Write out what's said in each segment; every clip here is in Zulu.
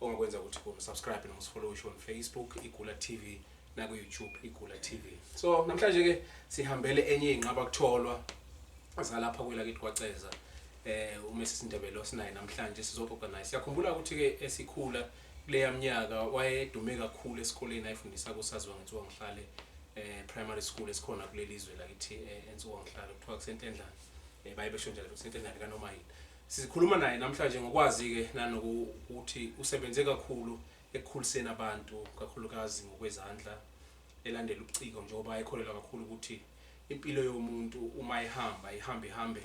ongakwenza ukuthi ku subscribe no follow on Facebook igula TV na ku YouTube igula TV so namhlanje ke sihambele enye inqaba kutholwa zalapha kwela kithi kwaceza eh uma sisindebele osinaye namhlanje sizoxoxa naye siyakhumbula ukuthi ke esikhula kuleya mnyaka wayedume kakhulu esikoleni ayifundisa kusaziwa ngethiwa ngihlale eh primary school esikhona kuleli zwe lakithi eh, ensuku ngihlale kuthiwa kusentendlana eh baye besho njalo kusentendlana kanoma yini Sikhuluma naye namhlanje ngokwazi-ke nanokuthi usebenze kakhulu ekukhuliseni abantu kakhulukazi ngokwezandla elandela ubuciko njengoba ekholelwa kakhulu ukuthi impilo yomuntu uma ihamba ihamba ihambe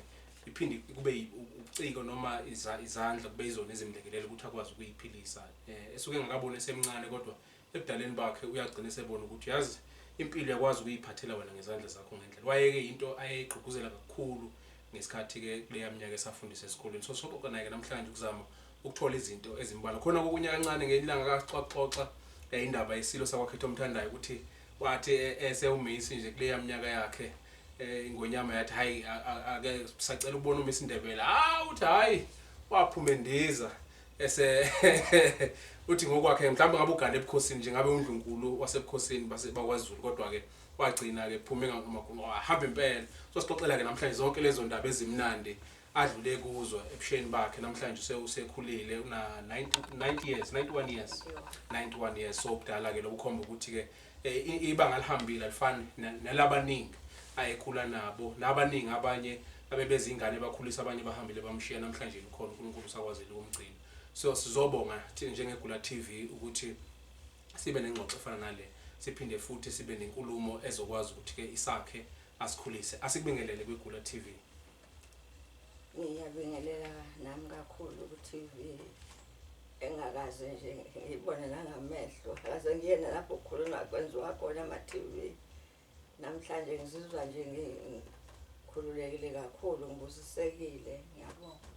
iphinde kube ubuciko noma izandla kube izona ezimlekelela ukuthi akwazi ukuyiphilisa um esuke engakaboni esemncane kodwa Ebudaleni bakhe uyagcina esebona ukuthi uyazi impilo uyakwazi ukuyiphathela wena ngezandla zakho ngendlela. Wayeke into ayeyigqugquzela kakhulu ngesikhathi ke kuleya minyaka esafundisa esikoleni. So soxoxa naye ke namhlanje ukuzama ukuthola izinto ezimbala. Khona kokunye kancane ngenye ilanga kaxoxoxa eh, indaba yesilo sakwakhetha omthandayo ukuthi wathi eh, eh, sewumeyisi nje kuleya minyaka yakhe eh, ingonyama yathi hayi a- a- ake sacela ukubona umisi Ndebele. Ah uthi hayi waphuma endiza. Ese uthi ngokwakhe mhlawumbe ngabe ugane ebukhosini nje ngabe undlunkulu wasebukhosini base bakwaZulu kodwa ke wagcina ke kuphume ngamagunqo ahamba impela so sixoxela ke namhlanje zonke lezo ndaba ezimnandi adlule kuzo ebusheni bakhe namhlanje use usekhulile una 90 years 91 years 91 years so ubudala ke lokukhomba ukuthi ke Eh, ibanga alihambile alifani nelabaningi ayekhula nabo nabaningi abanye abebezingane bakhulisa abanye bahambile bamshiya namhlanje likhona uNkulunkulu usakwazile ukumgcina so sizobonga thina njengegula TV ukuthi sibe nengxoxo efana nale siphinde futhi sibe nenkulumo ezokwazi ukuthi ke isakhe asikhulise asikubingelele kwigula TV Ngiyabingelela nami kakhulu ku-TV engakaze nje ngiyibone nangamehlo akaze ngiyena lapho kukhulunywa kwenziwa khona ama-TV namhlanje ngizizwa nje ngikhululekile kakhulu ngibusisekile ngiyabonga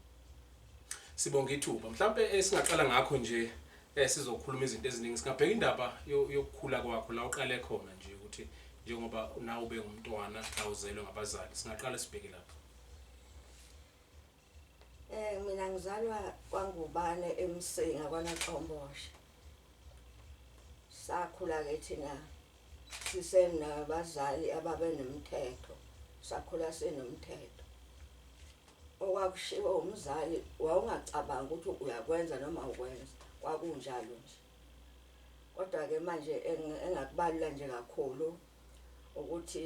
Sibonga ithuba. Mhlampe esingaqala ngakho nje eh sizokhuluma izinto eziningi. Singabheka indaba yo- yokukhula kwakho la uqale khona nje ukuthi njengoba nawe ube ngumntwana awuzelwe ngabazali. Singaqala sibheke lapho. Eh mina ngizalwa kwaNgubane eMsinga kwaNaqomboshe. Sakhula ke thina sisenabazali ababenomthetho. Sakhula sinomthetho. Okwakushiwo umzali wawungacabangi ukuthi uyakwenza noma ukwenza kwakunjalo nje. Kodwa ke manje engakubalula nje kakhulu ukuthi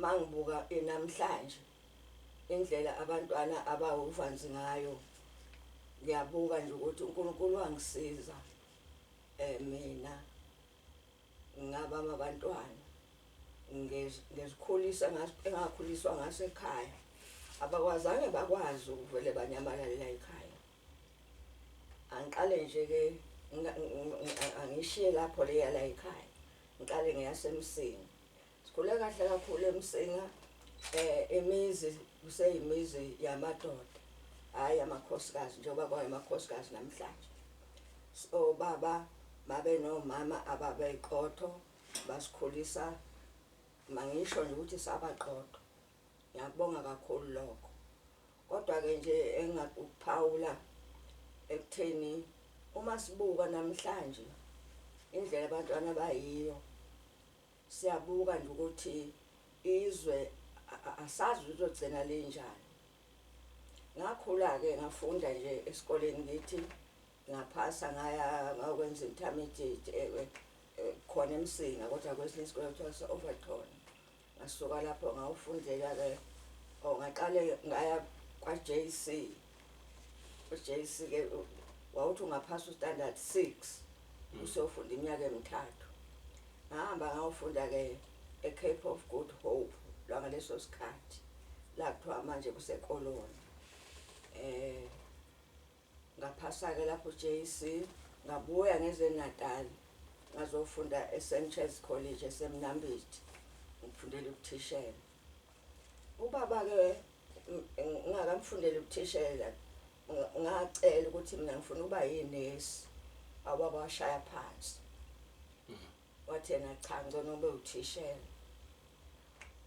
mangibuka namhlanje indlela abantwana abawuvanzi ngayo ngiyabuka nje ukuthi uNkulunkulu wangisiza eh mina Ngabanga abantwana ngezikhulisa engakhuliswa ngaso ekhaya abakwazange bakwazi ukuvele banyamalale la ekhaya angiqale nje ke angishiye lapho leya la ekhaya ngiqale ngeyasemsini Sikhule kahle kakhulu emsinga um eh, imizi kuseyimizi yamadoda hhayi amakhosikazi njengoba kwayo amakhosikazi namhlanje so baba babenomama ababeyiqotho basikhulisa mangisho nje ukuthi sabaqotho ngiyakubonga kakhulu lokho kodwa-ke nje engakuphawula ekutheni uma sibuka namhlanje indlela abantwana bayiyo Siyabuka nje ukuthi izwe asazi lizogcina linjani. Ngakhula-ke ngafunda nje esikoleni ngithi ngaphasa ngaya ngakwenza intermediate eh, eh, eh, khona emsinga kodwa kwesinye isikole kuthiwa se-overton ngasuka lapho ngawufundela-ke or oh, ngaqale ngaya kwa-j c uJC ke wawuthi ungaphasa ustandard 6 mm. usofunda iminyaka emithathu ngahamba ngawufunda ke eCape of Good Hope lwangaleso sikhathi la kuthiwa manje kusekoloni eh ngaphasa ke lapho JC ngabuya ngeze Natal ngazofunda eSanchez College eseMnambithi ngifundela ukuthishela Ubaba ke ngingakamfundele ubuthishela ngacela ukuthi mina ngifuna ukuba yinesi awubaba washaya phansi mm-hmm. wathi yena cha ngcono ube uthishela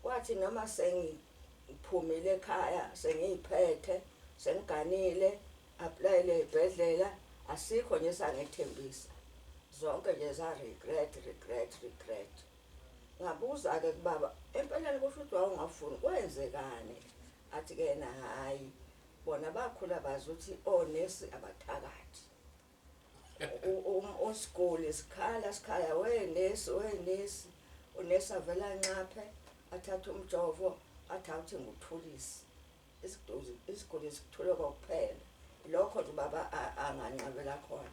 kwathi noma sengiphumile ekhaya sengiyiphethe sengiganile aplayile ibhedlela asikho nje sangethembisa zonke nje za regret regret regret Ngabuza-ke kubaba, Empeleni kusho ukuthi wawungafuni, kwenzekani? Athi-ke yena, Hhayi, bona bakhula bazi ukuthi onesi abathakathi. Usiguli sikhala sikhala, wenesi, wenesi. Unesi avele anxaphe, athathe umjovo, athi awuthenga uthulisi. Isiduzi isiguli sikuthole kokuphela lokho nje ubaba anganqabela khona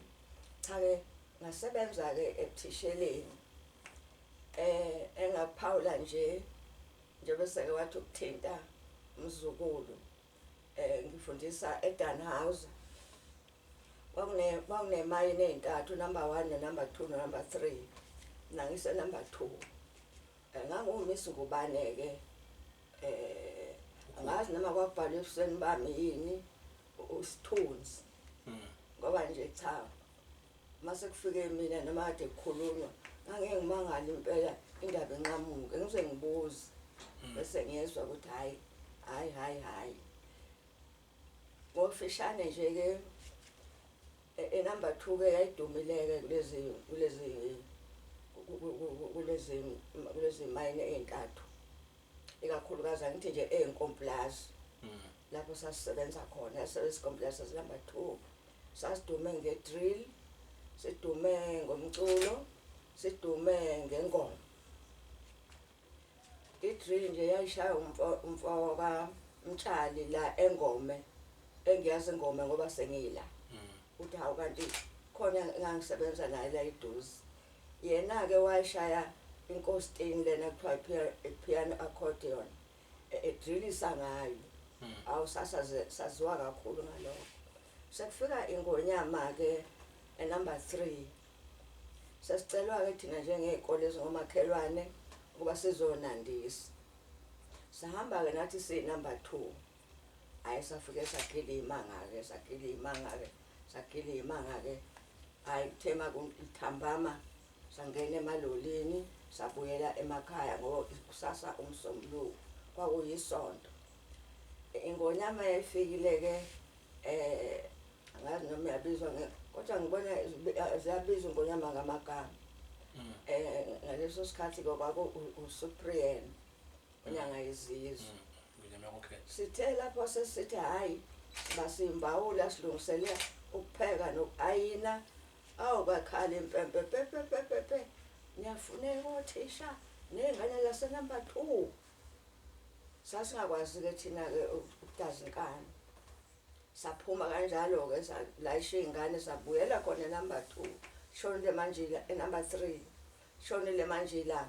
cha-ke ngasebenza-ke ebuthisheleni eh engaphawula nje njengoba seke wathi ukuthinta umzukulu eh ngifundisa eDanhauser kwakune kwakunemayini ezintathu number 1 no number 2 no number 3 mina ngise number 2 Ngangumiss ngubane-ke um angazi noma kwakubhalwe ebusweni bami yini usithunzi hmm. ngoba nje cha uma sekufike mina noma kade kukhulunywa ngangeke ngimangale impela indaba enqamuke ngize ngibuze hmm. bese ngiyezwa ukuthi hhayi hhayi hhayi hhayi Ngokufishane nje ke e, e number 2 ke yayidumileke kulezi kulezi kulezi kulezi mine ezintathu ikakhulukazi angithi nje ezinkomplazi mm. lapho sasisebenza khona service complex number 2 sasidume ngedrill sidume ngomculo sidume ngengoma I-drill nje yayishaya umfo umfo ka Mtshali la engome engiyazi ingome ngoba sengila uthi hawu kanti khona engangisebenza naye la iduze yena ke wayishaya inkostini lena kuthiwa piano accordion edrilisa e, ngayo awu sasaziwa kakhulu ngalokho sekufika ingonyama ke enumber 3 Sasicelwa-ke thina njengey'kole ezingomakhelwane ukuba sizonandisa. Sahamba-ke nathi siyi-number two. Hhayi safike sagila iy'manga-ke, sagila iy'manga-ke, sagila iy'manga-ke. Hhayi kuthe uma kuthambama sangena emalolini, sabuyela emakhaya ngoba kusasa umsombuluko, kwakuyisonto. Ingonyama yayifikile-ke Eh angazi noma yabizwa kodwa ngibona ziyabizwa ingonyama ngamagama. Mm. Eh ngaleso sikhathi kwaku uSupreme unyanga yezizwe. Mm. Ngonyama kokhetha. Sithe lapho sesithi hayi basimbawula silungisele ukupheka nokuayina awu bakhala impempe pepepepepe niyafuneka othisha nengane lasenumber two sasingakwazi-ke thina-ke ukudaza inkani saphuma kanjalo-ke salayisha iy'ngane sabuyela khona enumber two shonile manjila enumber three shonile manjila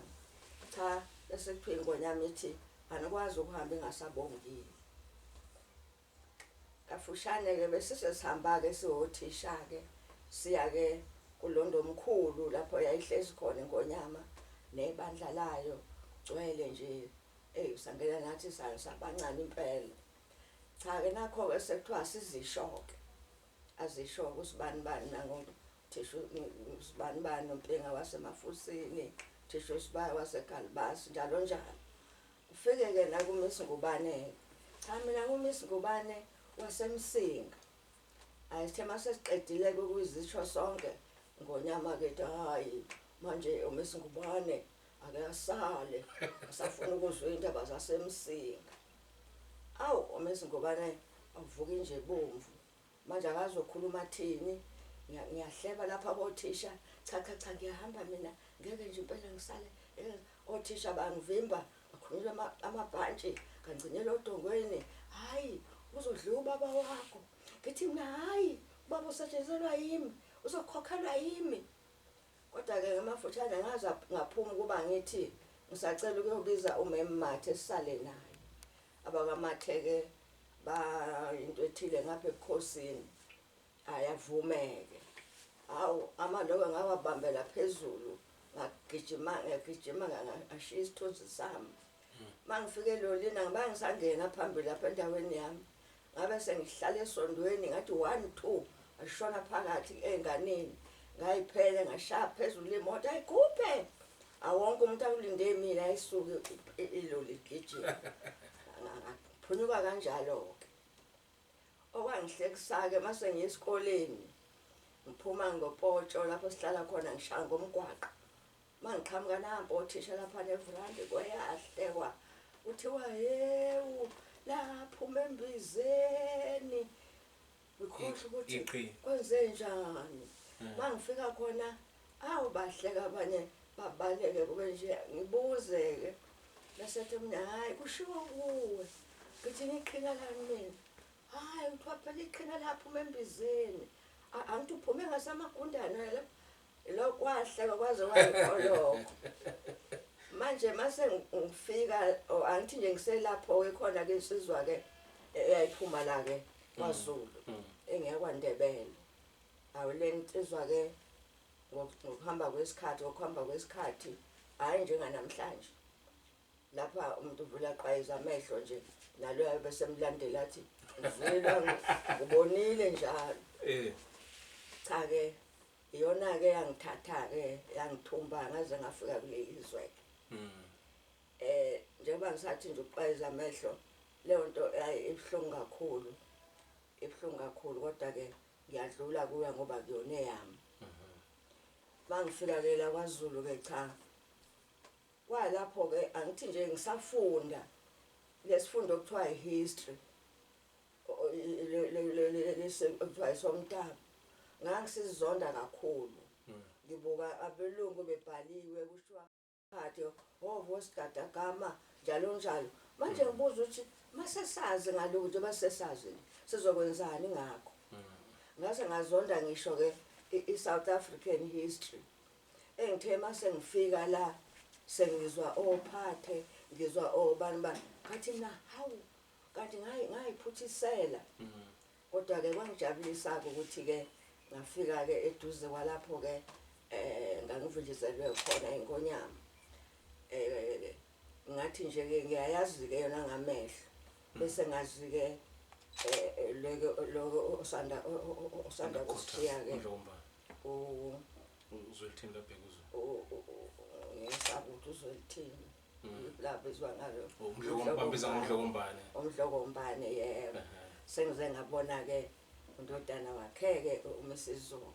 cha bese kuthiwa ingonyama ithi anikwazi ukuhamba ingasabongile Kafushane-ke besise sihamba-ke siwothisha-ke siya-ke kuLondomkhulu lapho yayihlezi khona iNgonyama nebandla layo kugcwele nje eyi sangena nathi sabancane impela. Cha-ke nakho-ke sekuthiwa asizisho-ke azisho-ke ukuthi ubani bani nangothisha usibani bani uMpinga waseMafusini, uthisha uSibaya waseGalibasi njalo njalo. Ufike-ke la kuMiss Ngubane-ke. Cha mina nguMiss Ngubane waseMsinga. Hhayi sithe uma sesiqedile-ke ukuzisho sonke ngonyama kethu hhayi manje uMiss Ngubane ake asale asafuna ukuzwa iy'ndaba zaseMsinga. Awu uMiss Ngubane avuke nje bomvu. Manje angazi uzokhuluma athini. Ngiya- Ngiyahleba lapha kothisha. Cha cha cha ngiyahamba mina. Ngeke nje impela ngisale. eh, Othisha bangivimba. Akhulule ama- amabhantshi. Kangcinele odongweni. Hhayi uzodliwa ubaba wakho. Ngithi mina hhayi ubaba usetshenzelwa yimi. Uzokhokhelwa yimi. Kodwa-ke ngamafutshane ngaza ngaphuma ukuba ngithi ngisacela ukuyobiza uMem Mathe sisale naye. AbakwaMathe-ke bayinto ethile ngapha ebukhosini. Hhayi avume-ke. Hawu, amalokwe ngawabambela phezulu, ngagijima, ngagijima ngashiya isithunzi sami. Uma ngifika elolini angibange ngisangena phambili lapha endaweni yami. Ngabe sengihlala esondweni ngathi one two ngashona phakathi enganeni ngayiphele ngashaya phezulu imoto ayikhuphe awonke umuntu akulinde mina ayisuke iloli gijima ngaphunyuka kanjalo-ke okwangihlekisa-ke uma sengiya esikoleni ngiphuma ngopotsho lapho sihlala khona ngishaya ngomgwaqo Mangiqhamuka nampo othisha lapha nevrandi kweyahlekwa kuthiwa hewu laphuma embizeni ngikhohlwa ukuthi kwenze njani hmm. mangifika khona awu bahleka abanye babaleke kube nje ngibuzeke bese ethi mina hhayi kushiwo kuwe ngithi ngiqhina lani mina hhayi kuthiwa phela iqhina laphuma embizeni angithi uphume ngasamagundane lapho lokhu wahleka kwaze wayikholoko manje mase ngifika oh, angithi nje ngiselapho-ke khona ke insizwa-ke eyayiphuma la-ke kwazulu mm, mm. engeyakwandebele awu le nsizwa-ke ngokuhamba kwesikhathi ngokuhamba kwesikhathi hhayi njenganamhlanje lapha umuntu uvula qayiza amehlo nje naloyo besemlandela athi ngizwile ngibonile njalo eh. cha-ke Iyona-ke eyangithatha-ke yangithumba ngaze ngafika kuleli zwe-ke. Mm. Eh njengoba ngisathi nje uqwayiza amehlo leyo nto ayi ibuhlungu kakhulu. Ibuhlungu kakhulu kodwa-ke ngiyadlula kuya ngoba kuyona eyami. Mangifika-ke la kwaZulu-ke cha kwalapho-ke angithi nje ngisafunda lesifundo okuthiwa i-history lesivayisa omntaba ngangisizonda kakhulu hmm. ngibuka abelungu bebhaliwe kushiwa phathi ngovo oh, sigadagama njalo njalo manje hmm. ngibuza ukuthi masesazi ngalo ukuthi masesazi sizokwenzani ngakho hmm. ngase ngazonda ngisho ke i-South African history engithe mase ngifika la sengizwa ophathe ngizwa obani bani ngathi na hawu Kanti ngayi ngayiphuthisela. Mm. Kodwa ke kwangijabulisa ke ukuthi ke ngafika ke eduze kwalapho ke eh ngangivinjezelwe khona inkonyama. Eh ngathi nje ke ngiyayazi ke yona ngamehlo. Mm. Bese ngazi ke eh loko loko osanda osanda kushiya ke. Ndlomba. U uzwelithini lapha kuzo. U ngisabuthu uzwelithini. Mm. labizwa ngalo umdlokombambiza ngomdlokombane umdlokombane yebo sengize ngabona ke undodana wakheke umisizulu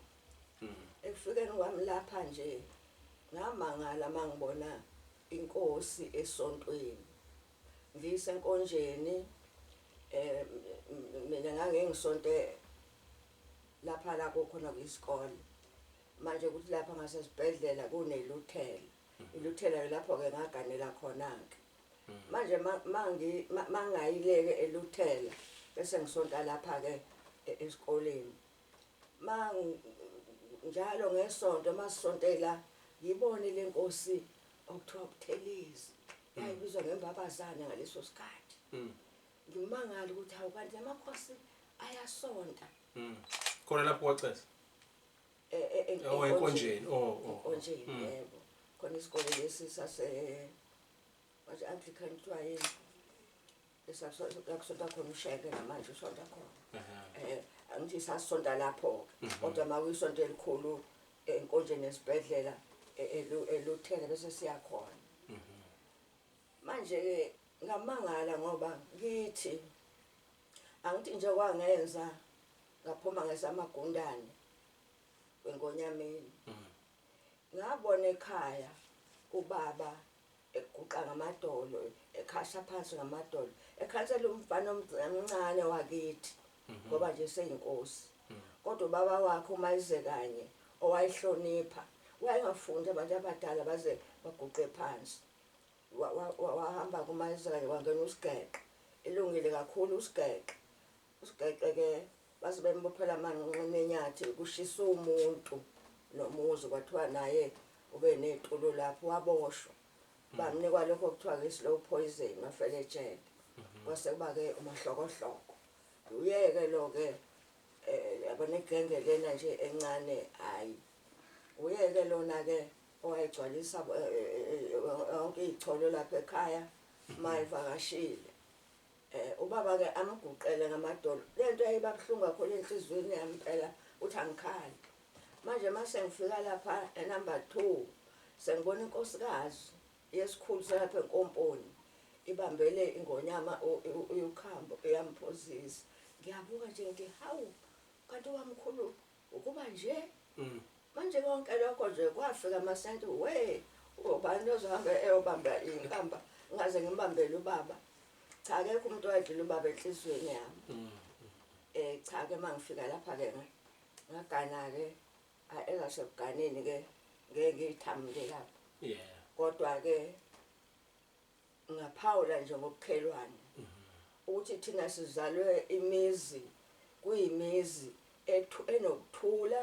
mm. ekufikeni kwami lapha nje ngamangala mangibona inkosi esontweni ngisenkonjeni eh mina ngangengisonte lapha la kokhona kwisikole manje ukuthi lapha ngasesibhedlela kuneluthela iluthelayo lapho-ke ngaganela khona-ke manje mangayileke eluthela bese ngisonta lapha-ke e-, esikoleni njalo ngesonto masisontela ngibone le nkosi okuthiwa buthelezi yayibizwa ngembabazane ngaleso sikhathi hmm. ngimangala ukuthi hawu kanti amakhosi ayasonta hmm. khona lapho wacesa e- e- e- Oh, enkonjeni. Oh, oh, oh. enkonjeni Mm. yebo khona isikole lesi sase wathi anglican kuthiwa yini esakusonta khona usheke namanje usonta khona Ehhe. um angithi sasisonta lapho-ke kodwa ma uyisonto elikhulu enkonjeni esibhedlela e- elu- eluthele bese siyakhona manje-ke ngamangala ngoba ngithi Angithi nje kwangenza ngaphuma ngesamagundane kweNgonyameni. Mm. Ngabona ekhaya ubaba eguqa ngamadolo ekhasha phansi ngamadolo ekhansela umfana omncane wakithi mhm. ngoba nje seyinkosi mm. kodwa ubaba wakhe uma ize kanye owayihlonipha wayengafundi abantu abadala baze baguqe phansi wahamba kuMayisela-ke kwangena uSigeqe elungile kakhulu uSigeqe uSigeqe-ke base bembophela amanqinqini enyathi kushisa umuntu nomuzi kwathiwa naye ube netulo lapho waboshwa mm. bamnikwa lokho okuthiwa-ke i-slow poison wafela ejele mm-hmm. kwase kuba-ke umahlokohloko uyeke lo-ke um yabona igenge lena nje encane hhayi uyeke lona-ke owayegcwalisa yonke iy'cholo lapha ekhaya uma evakashile. Um ubaba-ke amguqele ngamadolo. Le nto yayibabuhlungu kakhulu enhliziyweni yami phela ukuthi angikhali. Manje uma sengifika lapha enumber two sengibona inkosikazi yesikhulu salapha enkomponi ibambele ingonyama uyukhambo uyamphuzisa. Ngiyabuka nje ngithi hawu kanti wamkhulu Ukuba nje. Mm. Manje konke lokho nje kwafika amasenti we ubani ozohamba eyobamba inkamba ngaze ngimbambele ubaba cha akekho umuntu wadlula ubaba enhliziyweni yami mm. eh cha ke mangifika lapha ke ngagana ke eza sekuganeni ke ngeke ngithamile lapha yeah kodwa ke Ngingaphawula nje ngobukhelwane ukuthi thina sizalwe imizi kuyimizi ethu enokuthula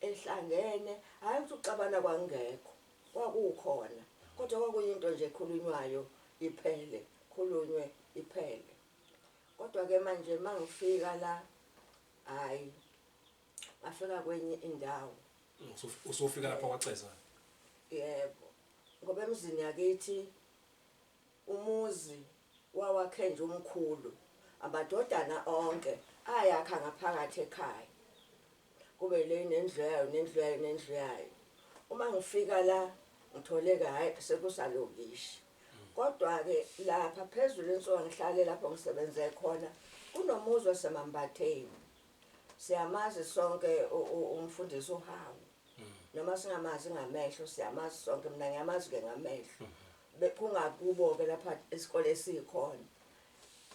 ehlangene hhayi ukuthi uxabana kwakungekho kwakukhona kodwa kwakuyinto nje ekhulunywayo iphele khulunywe iphele kodwa ke manje mangifika la hayi ngafika kwenye indawo usufika lapha kwaceza yebo Ngoba emzini yakithi umuzi wawakhenje umkhulu amadodana onke ayakha ngaphakathi ekhaya kube le nendlu yayo nendlu yayo nendlu yayo uma ngifika la ngitholeke hayi sekusalokishi kodwa-ke lapha phezulu ensuka ngihlale lapho ngisebenze khona kunomuzi wasemambatheni Siyamazi sonke umfundisi uHawu. Mm. Noma singamazi ngamehlo siyamazi sonke mina ngiyamazi ke ngamehlo. Mm-hmm. Kungakubo ke lapha isikole esikhona.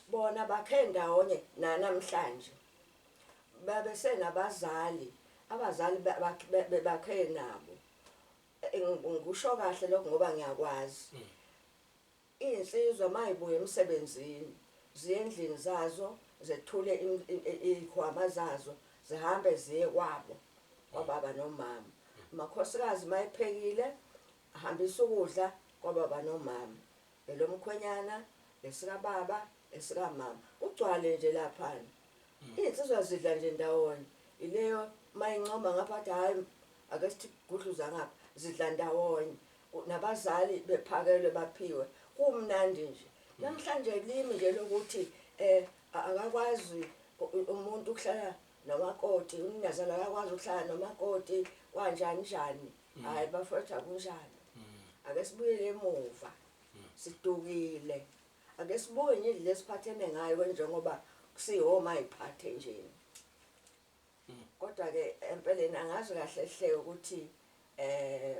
Bona bakhe ndawonye nanamhlanje. Babe senabazali, abazali bakhe nabo. Ngisho kahle lokho ngoba ngiyakwazi. Mm. Izinsizwa mayibuya emsebenzini ziye endlini zazo zethule izikhwama zazo zihambe ziye kwabo kwababa nomama. Amakhosikazi mayephekile ahambisa ukudla kwababa nomama. Elomkhwenyana, esikababa, esikamama. Kugcwale nje laphana. Izinsizwa zidla nje ndawonye. Ileyo mayincoma ngapha athi hayi ake sithi gudluza ngapha zidla ndawonye. nabazali bephakelwe baphiwe kumnandi nje namhlanje limi nje lokuthi eh akakwazi umuntu ukuhlala nomakoti umnazana akakwazi ukuhlala nomakoti kwanjani njani mm. hayi bafethu akunjani mm. ake sibuyele emuva mm. sidukile ake sibuke nje lesi phathene ngayo njengoba kusihoma iphathe nje Kodwa ke empeleni angazi kahle hle ukuthi eh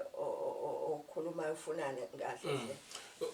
okhuluma ufunani kahle mm. hle.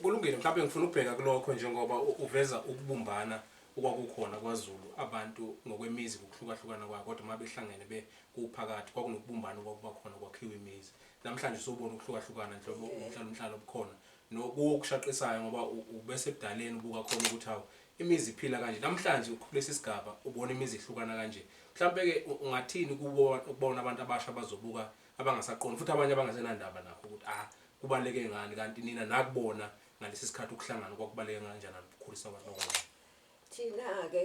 Kulungile mhlawumbe ngifuna ukubheka kulokho njengoba uveza ukubumbana okwakukhona kwaZulu abantu ngokwemizi ngokuhlukahlukana kwabo kodwa uma behlangene be kuphakathi kwakunokubumbana okwakuba khona kwakhiwa imizi namhlanje usubona ukuhlukahlukana nhlobo umhlalo umhlalo obukhona nokuwo kushaqisayo ngoba ubese ebudaleni ubuka khona ukuthi hawu Imizi iphila kanje namhlanje ukulesi sigaba ubona imizi ihlukana kanje mhlampe ke ungathini kubo ukubona abantu abasha abazobuka abangasaqondi futhi abanye abangasenandaba nakho ukuthi a kubaleke ngani kanti nina nakubona ngalesi sikhathi ukuhlangana kwakubaleke kanjani ukukhulisa abantu abancane Thina ke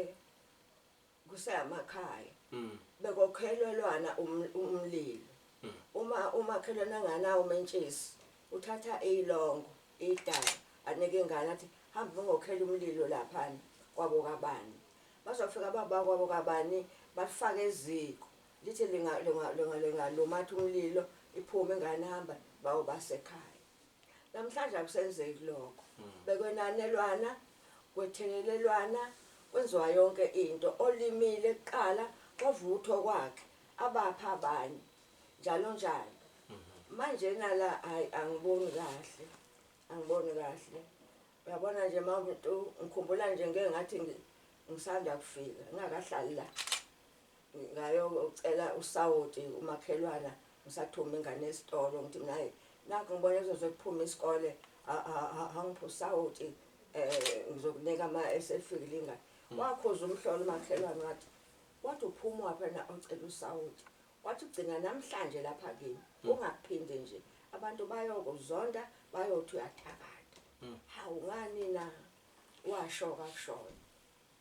kuseyamakhaya bekokhelelwana umlilo uma umakhelwane enganawo umentshisi uthatha ilongo idala anike ingane athi hamba bengokhela umlilo laphana kwabo kabani bazofika baba kwabo kabani bafake eziko lithi lingalumatha umlilo iphume ingane hamba bawo basekhaya Namhlanje akusenzeki lokho. Bekwenanelwana, kwethelelelwana, kwenziwa yonke into. Olimile kuqala ovuthwa okwakhe, abapha abanye. Njalo njalo. Manjena la hayi angiboni kahle. Angiboni kahle. Uyabona nje mawumuntu ngikhumbula nje ngeke ngathi ngisanda kufika, ngingakahlali la. ngayocela usawoti umakhelwana ngisathuma ingane esitolo ngithi nayi nakho ngibona kuzoze kuphume isikole angiphe usawoti um eh, ngizokunika ama esefikile ingane hmm. wakhuza umhlola umakhelwane wathi wathi uphuma waphana ocela usawoti wathi ugcina namhlanje lapha kimi hmm. ungaphinde nje abantu bayokuzonda bayothi uyathakatha hmm. hawu ngani na washo kakushona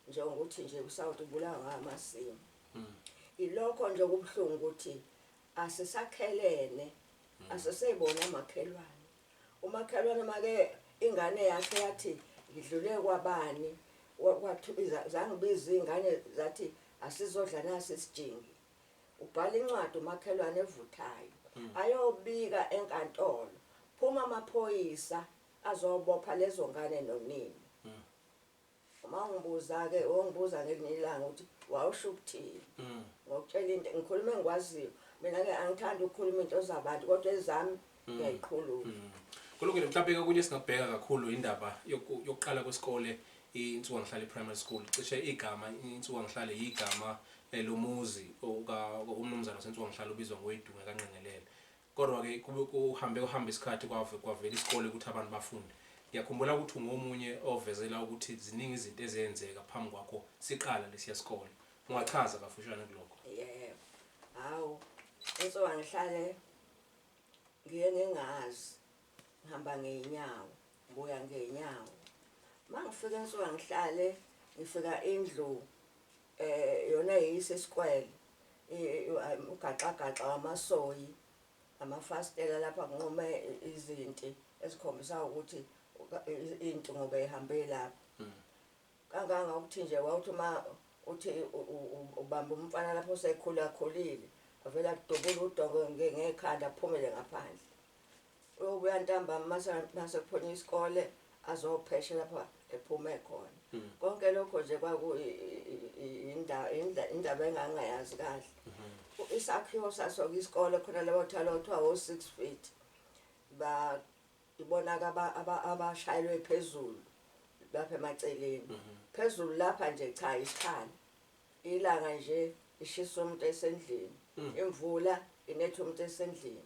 njengokuthi nje uSouth ubulawa ngamasimu mm. ilokho nje okubuhlungu ukuthi asisakhelene mm. asisebona amakhelwane umakhelwane make ingane yakhe yathi ngidlule kwabani kwathibiza zangibiza ingane zathi asizodla nasi isijingi ubhala incwadi umakhelwane evuthayo mm. ayobika enkantolo phuma amaphoyisa azobopha lezo ngane nonini Uma ungibuza-ke, wongibuza ngelinye ilanga ukuthi wawusho ukuthini. Mm. Ngokutshela into, ngikhuluma engikwaziyo. Mina-ke angithandi ukukhuluma into zabantu kodwa ezami mm. ngiyayikhuluma. Mm. Kulungile mhlawumbe okunye singabheka kakhulu indaba yokuqala kwesikole insuka ngihlale primary school cishe igama insuka ngihlale igama eh, lomuzi umnumzana sensuka ngihlale ubizwa ngoyidunga kanqengelele Kodwa ke kube kuhambe kuhambe isikhathi kwave kwavela isikole ukuthi abantu bafunde. Ngiyakhumbula ukuthi ungomunye ovezela ukuthi ziningi izinto ezenzeka phambi kwakho siqala lesiya sikole. Ungachaza kafushane kulokho? Yebo. Hawu. Insuka ngihlale ngiye ngingazi. Ngihamba ngeenyawo, ngibuya ngeenyawo. Mangifika insuka ngihlale ngifika indlu Eh yona yeyisa isikwele. Ugaxagaxa wamasoyi amafasitela lapha kunquma izinti ezikhombisa ukuthi into ngoba ihambe lapha. Mm. Kanganga ukuthi nje wawuthi uma uthi ubamba umfana lapho sekhula khulile avela kudubula udongo ngekhanda aphumele ngaphandle. uyobuya ntambama mase mase kuphonye isikole azopheshe lapha ephume khona hmm. konke lokho nje kwaku indaba indaba engangayazi kahle hmm. isakhiwo sasoke isikole khona labo thalo kuthiwa wo 6 feet ba ibona ka abashayelwe phezulu lapha emaceleni hmm. phezulu lapha nje cha isikhala ilanga nje ishisa umuntu esendlini imvula inetha umuntu esendlini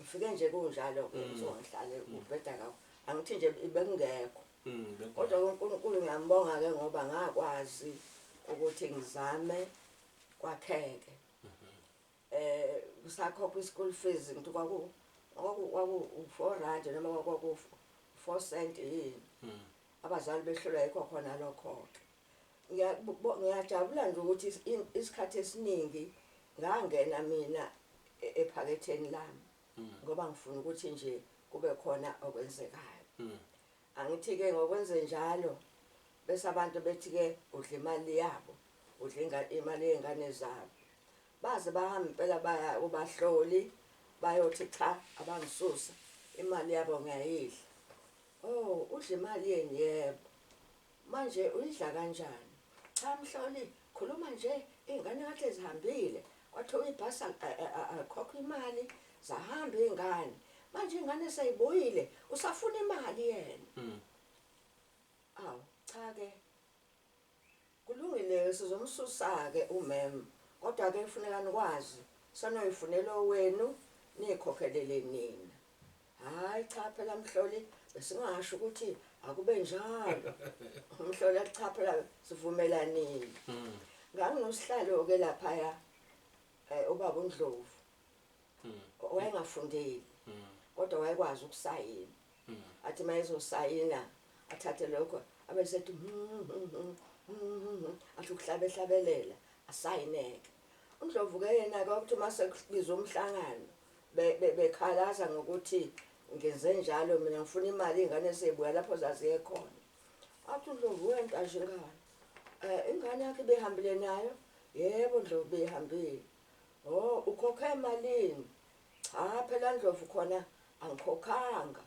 Ufike nje kunjalo ke uzongihlale ubheda kawo. Angithi nje ibekungekho. Kodwa uNkulunkulu ngiyambonga ke ngoba ngakwazi ukuthi ngizame kwakheke. Eh kusakhokha ischool fees ngithi kwaku kwaku 4 rand noma kwaku 4 cent yini. Abazali behlulwa yikho khona lokho ke. Ngiyakubo ngiyajabula nje ukuthi is- in- isikhathi esiningi ngangena mina e- ephaketheni lami ngoba ngifuna ukuthi nje kube khona okwenzekayo Mm. angithi ke ngokwenze njalo bese abantu bethi ke udla imali yabo udla inga- imali yengane zabo baze bahamba impela baya ubahloli bayothi cha abangisusa imali yabo ngiyayidla oh udla imali yeni yebo Manje uyidla kanjani? Cha Mhloli khuluma nje iy'ngane kade zihambile kwathiwa ibhasi alikhokhwa imali zahamba iy'ngane manje iy'ngane seyibuyile usafuna imali yena mm. awu cha-ke kulungile-ke sizomsusa-ke umem kodwa-ke kufuneka nikwazi sanoyifunela owenu niyikhokhelele nina Hhayi cha phela Mhloli besingasho ukuthi akube njalo. Mhloli athi cha phela sivumelanile. Mm. Nganginosihlalo-ke laphaya um ubaba uNdlovu mm. wayengafundile mm. kodwa wayekwazi ukusayina mm. athi uma ezosayina athathe lokho abe sethi hmm, hmm, hmm, athi ukuhlabehlabelela asayineke UNdlovu ke yena ke uthi uma sekubizwa umhlangano be- be- bekhalaza ngokuthi ngenze njalo mina ngifuna imali iy'ngane sey'buya lapho zaziye khona. Athi uNdlovu wenta nje ingane. Eh, ingane yakhe ibihambile nayo? Yebo Ndlovu beyihambile. O, ukhokhe malini? Cha phela Ndlovu khona angikhokhanga.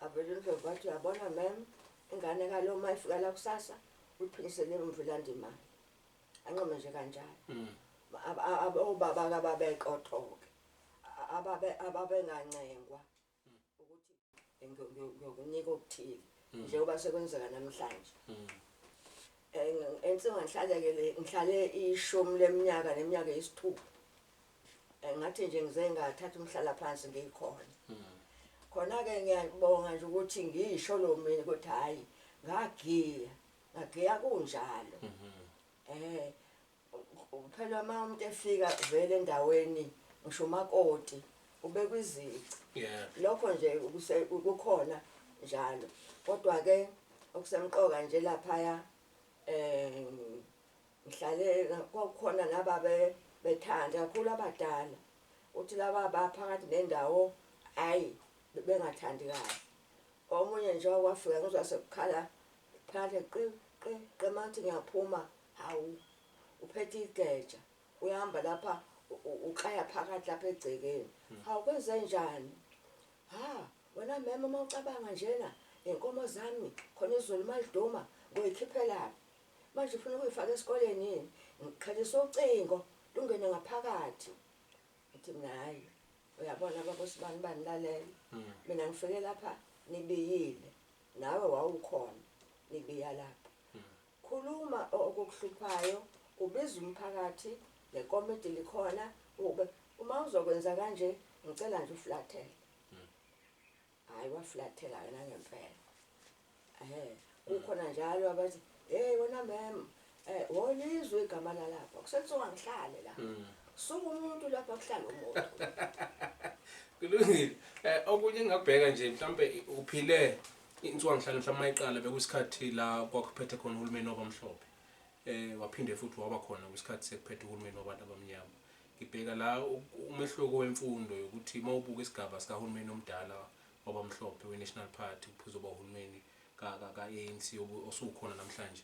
Avele uNdlovu athi uyabona mem, ingane kalo uma ifika la kusasa uyiphinyisele emuva ilande imali. anqome nje kanjalo mm. obaba kababeqothoke ababe ababengancengwa mm. ukuthi ngiyokunika okuthile mm. njengoba sekwenzeka namhlanje ensinga ngihlalekele ngihlale ishumi leminyaka neminyaka eyisithupha ngathi nje ngize ngathatha umhlala phansi ngikhona khona-ke ngiyabonga nje ukuthi ngisho lo mina ukuthi hhayi ngagiya Ngagiya kunjalo. Eh phela uma umuntu efika vele endaweni ngisho umakoti ubekwa izici. Yeah. Lokho nje kuse- kukhona njalo. Kodwa ke okusemqoka nje laphaya eh ngihlale kwakukhona nababe bethanda kakhulu abadala. Uthi laba baphakathi nendawo ayi bengathandi kahle. Omunye njengoba wafika ngizwa sekukhala phandle qi qi qi mangithi ngiyaphuma hawu uphethe igeja uyahamba lapha uklaya phakathi lapha egcekeni hmm. hawu kwenze njani ha wena mema uma ucabanga njena inkomo zami khona izulu maliduma ngoyikhiphelaphi manje ufuna ukuyifaka esikoleni yini ngikhalisa ucingo lungene ngaphakathi ngithi mina hayi Uyabona baba usibani bani lalela. Mm. Mina ngifike lapha nibiyile. Nawe wawukhona nibiya lapha. Mm. Khuluma okukuhluphayo, ubiza umphakathi, nekomiti likhona, ube uma uzokwenza kanje ngicela nje uflathele. Hayi waflathela ke nangempela. Ehhe kukhona njalo abathi hey wena mem eh wolizwe igama lalapha kusethiwa ngihlale la. Mm. Suka umuntu lapha kuhlala umuntu. Kulungile. Eh okunye ngabheka nje mhlambe uphile insuku ngihlale mhlawumbe mayiqala bekusikhathi la kwakuphethe khona uhulumeni wabamhlophe. Eh waphinde futhi waba khona kwisikhathi sekuphethe uhulumeni wabantu abamnyama. Ngibheka la umehluko wemfundo yokuthi uma ubuka isigaba sikahulumeni omdala wabamhlophe we-National Party kuzoba uhulumeni ka-ANC osukhona namhlanje.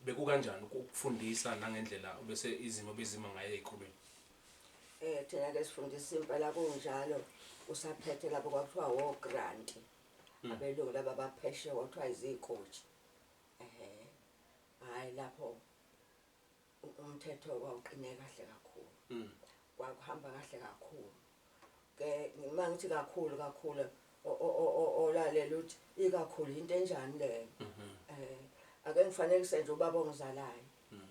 Bekukanjani ukufundisa nangendlela bese izimo bezima ngayo ezikolweni? Eh thina ke sifundisa impela kunjalo usaphethe lapho kwakuthiwa wo grant. Hmm. Abelungu laba bapheshe kwakuthiwa izikotshi. Eh. Hayi lapho umthetho wawuqine kahle kakhulu mm. kwakuhamba kahle kakhulu ke uma ngithi kakhulu kakhulu olalela ukuthi ikakhulu into enjani leyo mhm. eh ake ngifanekise nje ubaba ongizalayo mm.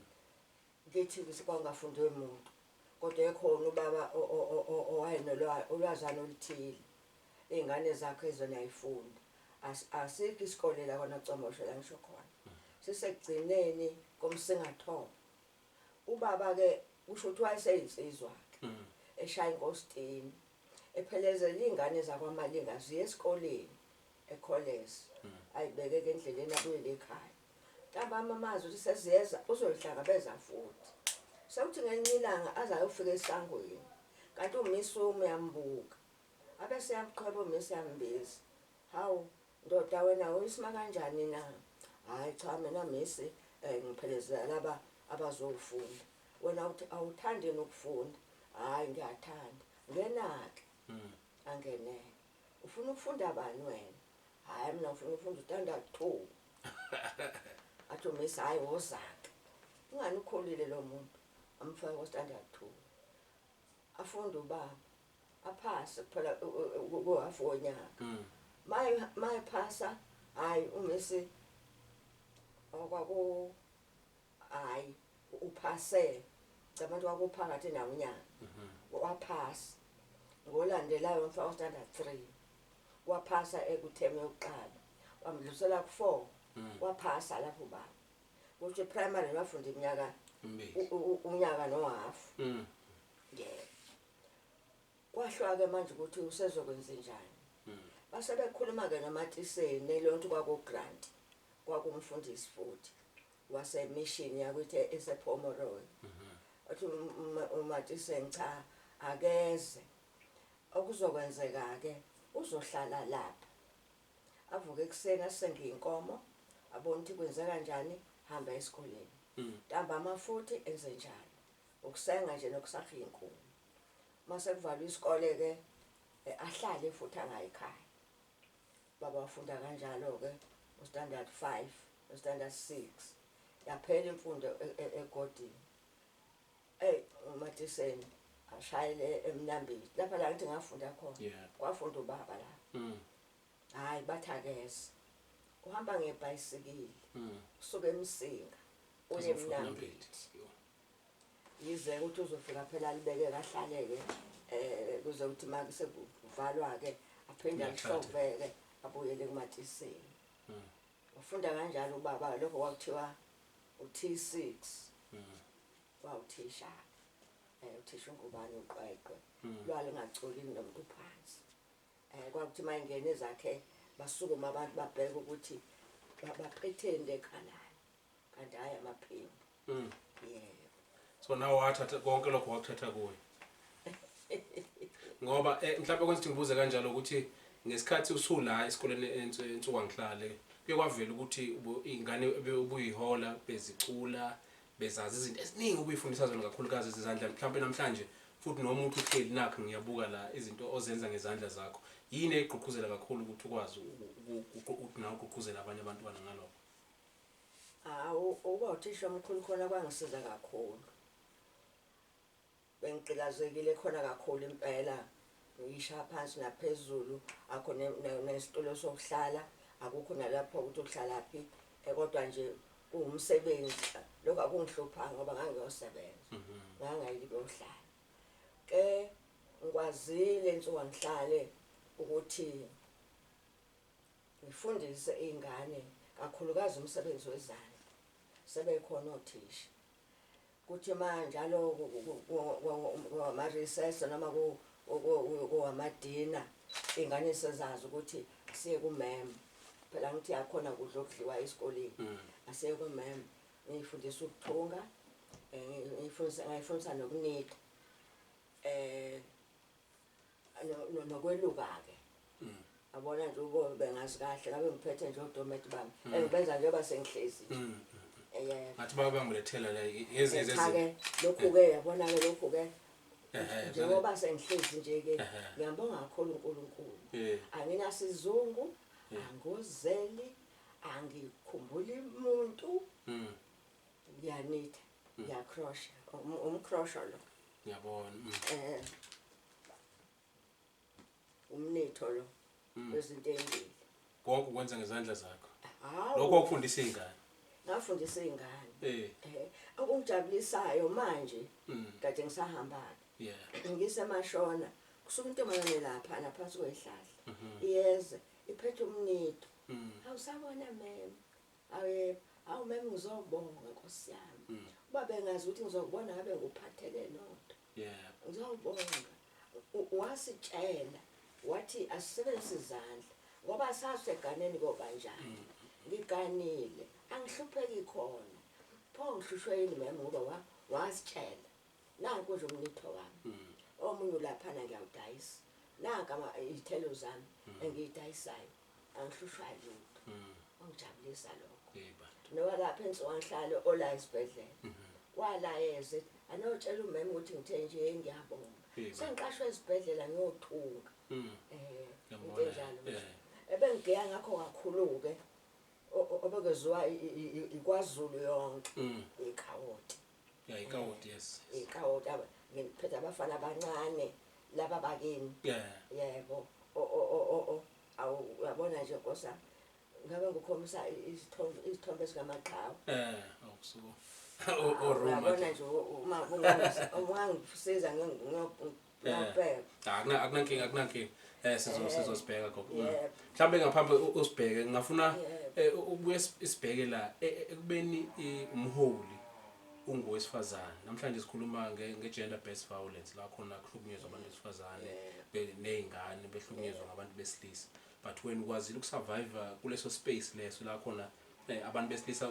ngithi kwangafundwe umuntu kodwa ekhona ubaba owayenolwazi olwazi oluthile Iy'ngane zakho izona ay'fundi. Asikho isikole la kwaNocomosho la ngisho khona. Sisekugcineni komsingathongo. Ubaba-ke kusho ukuthi wayeseyinsizwa-ke. Mm. Eshaya inkositini. Ephelezela iy'ngane zakwaMalinga ziye esikoleni ekholesi. Mm. Ayibeke-ke endleleni abuyele ekhaya. Ntambama amazi ukuthi seziyeza uzoyihlangabeza futhi. Sekuthi ngelinye ilanga aze ayofika esangweni. Kanti uMisumi uyambuka. Ake siyamqhweba umisi yambizi. Hawu ndoda wena uyisma kanjani na? Hhayi cha mina misi um ngiphelezela laba abazofunda. Wena uthi awuthandi yini ukufunda? Hhayi ngiyathanda. Ngenake. Angeneke. Ufuna ukufunda bani wena? Hhayi mina ngifuna ukufunda uStandard two. Athi umisi hhayi wozake. Ingani ukhulile lo muntu. Amfake koStandard two. Afunde ubaba. aphase kuphela kuhafu wonyaka mm. maye maye phasa hayi uMessi okwaku hayi uphase cabantu wakuphakathi nawo unyaka mhm. waphasa ngolandelayo mfa ostandard 3 waphasa ekutheme yokuqala wamdlusela ku4 mm. waphasa lapho ba kuthi primary wafunda iminyaka unyaka nohafu mm. yeah Kwahlwa-ke manje ukuthi usezokwenzenjani. Hmm. Base bekhuluma-ke noMatiseni, nelontu kwakuGrant, kwakumfundisi futhi, wasemishini yakuthi esePomeroy. Mhm. Wathi uMatiseni cha akeze. Okuzokwenzeka-ke uzohlala lapha. Avuke ekuseni asenge inkomo, abone ukuthi kwenzeka njani, hamba esikoleni. Hmm. Ntambama futhi enze njalo. Ukusenga nje nokusakha iy'nkuni. Uma sekuvalwa isikole-ke eh, ahlale futhi angayikhaya. Baba wafunda kanjalo-ke ustandard five ustandard six yaphela imfundo e- e- egodini eyi umatiseni ashayele emnambili lapha la ngithi ngafunda khona Yeah. kwafunda ubaba la Mm. hhayi bathakeze uhamba ngebhayisikili Mm. usuke emsinga uye Azofuna emnambili Mnambithi. Yo. Yize ukuthi uzofika phela alibeke kahlale-ke um kuze ukuthi ma sekuvalwa-ke aphinde alihlove-ke abuyele kumatisini hmm. ufunda kanjalo ubaba lokho kwakuthiwa u-t six hmm. wawuthisha um eh, uthisha ungubani uqweqwe hmm. lwalingacoli nomuntu phansi um kwakuthi uma ingene zakhe basukuma abantu babheke ukuthi bapretende kanani kanti hayi amaphimbo mm. yebo so nawe wathatha konke lokho wakuthatha kuwe ngoba eh, mhlawumbe kwenza ukuthi ngibuze kanjalo ukuthi ngesikhathi usula esikoleni ensuku angihlale kuye kwavela ukuthi iy'ngane ubuyihola bezicula bezazi izinto eziningi ubuyifundisa zona kakhulukazi ezizandla mhlawumbe namhlanje futhi noma uthi uhleli nakho ngiyabuka la izinto ozenza ngezandla zakho yini egqugquzela kakhulu ukuthi ukwazi ukuthi nawe ugqugquzele abanye abantwana ngalokho Hawu ukuba uthisha omkhulu khona kwangisiza kakhulu. Bengigqilazekile khona kakhulu impela ngiyishaya phansi naphezulu akho nesitulo sokuhlala akukho nalapho ukuthi uhlalaphi eh, kodwa nje kuwumsebenzi lokho akungihluphayo ngoba ngangiyosebenza mhm. ngangayikuyohlala ke ngikwazile nsuka ngihlale ukuthi Ngifundise iy'ngane kakhulukazi umsebenzi wezandla, sebekhona othisha. Kuthi uma njalo kungama-recess noma kungama-dinner, iy'ngane sezazi ukuthi asiye kumem. Phela ngithi akhona kudla okudliwa esikoleni, mm. asiye kumem. Ngiyifundisa ukuthunga, eh, ngiyifundisa nokunika. Um eh, nokweluka-ke mm. abona nje ubomi bengazi kahle ngabe ngiphethe nje odometi bami mm. and benza njengoba sengihlezi nje mm, eh, ngathi babangulethela la yezezeake lokhu-ke eh. yabona-ke lokhu-ke eh, njengoba sengihlezi nje-ke ngiyambonga kakhulu unkulunkulu anginasizungu angozeli angikhumbuli muntu ngiyanitha ngiyakhrosha um- umkhrosho lo ngiyabona mm. eh umnitho lo Mm. wezinto ezimbili konke ukwenza ngezandla zakho hawu lokho okufundisa iy'ngane ngafundisa iy'ngane Eh, eh okungijabulisayo manje mm, kade ngisahambana yeah. ngisemashona kusuka intombazane lapha naphansi kwehlahla Mhm, iyeze iphethe umnito mm. awusabona mem Awu yebo. Awu mem ngizobonga Nkosi yami. Uba bengazi ukuthi ngizokubona ngabe ngikuphathele nonto. Yebo. Ngizobonga. U- Wasitshela wathi asisebenzise izandla ngoba saseganeni kobanjani. Ngiganile, angihlupheki khona. Pho ngihlushwe yini mem ngoba wa- wasitshela. Nanku nje umlitho wami. Omunye ulaphana ngiyawudayisa. Nanka ama izithelo zami engiyidayisayo. Angihlushwa lutho. Kwangijabulisa lokho. Hey bantu. Nowalapha ensuwanhlalo ola esibhedlela. Walayeza ethi anotshela umema ukuthi ngithe nje hey ngiyabonga. Hey bandla. Sengiqashwe esibhedlela ngiyothunga. Mm. Eh Ngiyambona, into enjalo nje. eh. Ebengigeya ngakho kakhulu-ke o- o- obekeziwa i- i- i- ikwaZulu yonke Mm. ikhawoti. Yeah, ikawoti yes. Ikawoti aba ngiphethe abafana abancane laba bakini. Yeah. Yebo. O o o o o. Awu uyabona nje nkosa. Ngabe ngikhombisa isithombe isithombe sikamaqhawe. Eh, awusuku. O o Roma. Uyabona nje uma ungangisiza ngiyok Ngiyabheka. Ah, akuna- akunankinga akunankinga um sizo- sizosibheka gogo Mm. Yebo. mhlawumbe ngaphambi u- usibheke ngingafuna Yebo. um ukubuye si- sibheke la e- e- ekubeni i- umholi ungowesifazane namhlanje sikhuluma nge- nge-gender based violence la khona kuhlukunyezwa abantu besifazane be- ney'ngane behlukunyezwa ngabantu besilisa but wena ukwazile ukusurviva kuleso space leso la khona Eh, abantu besilisa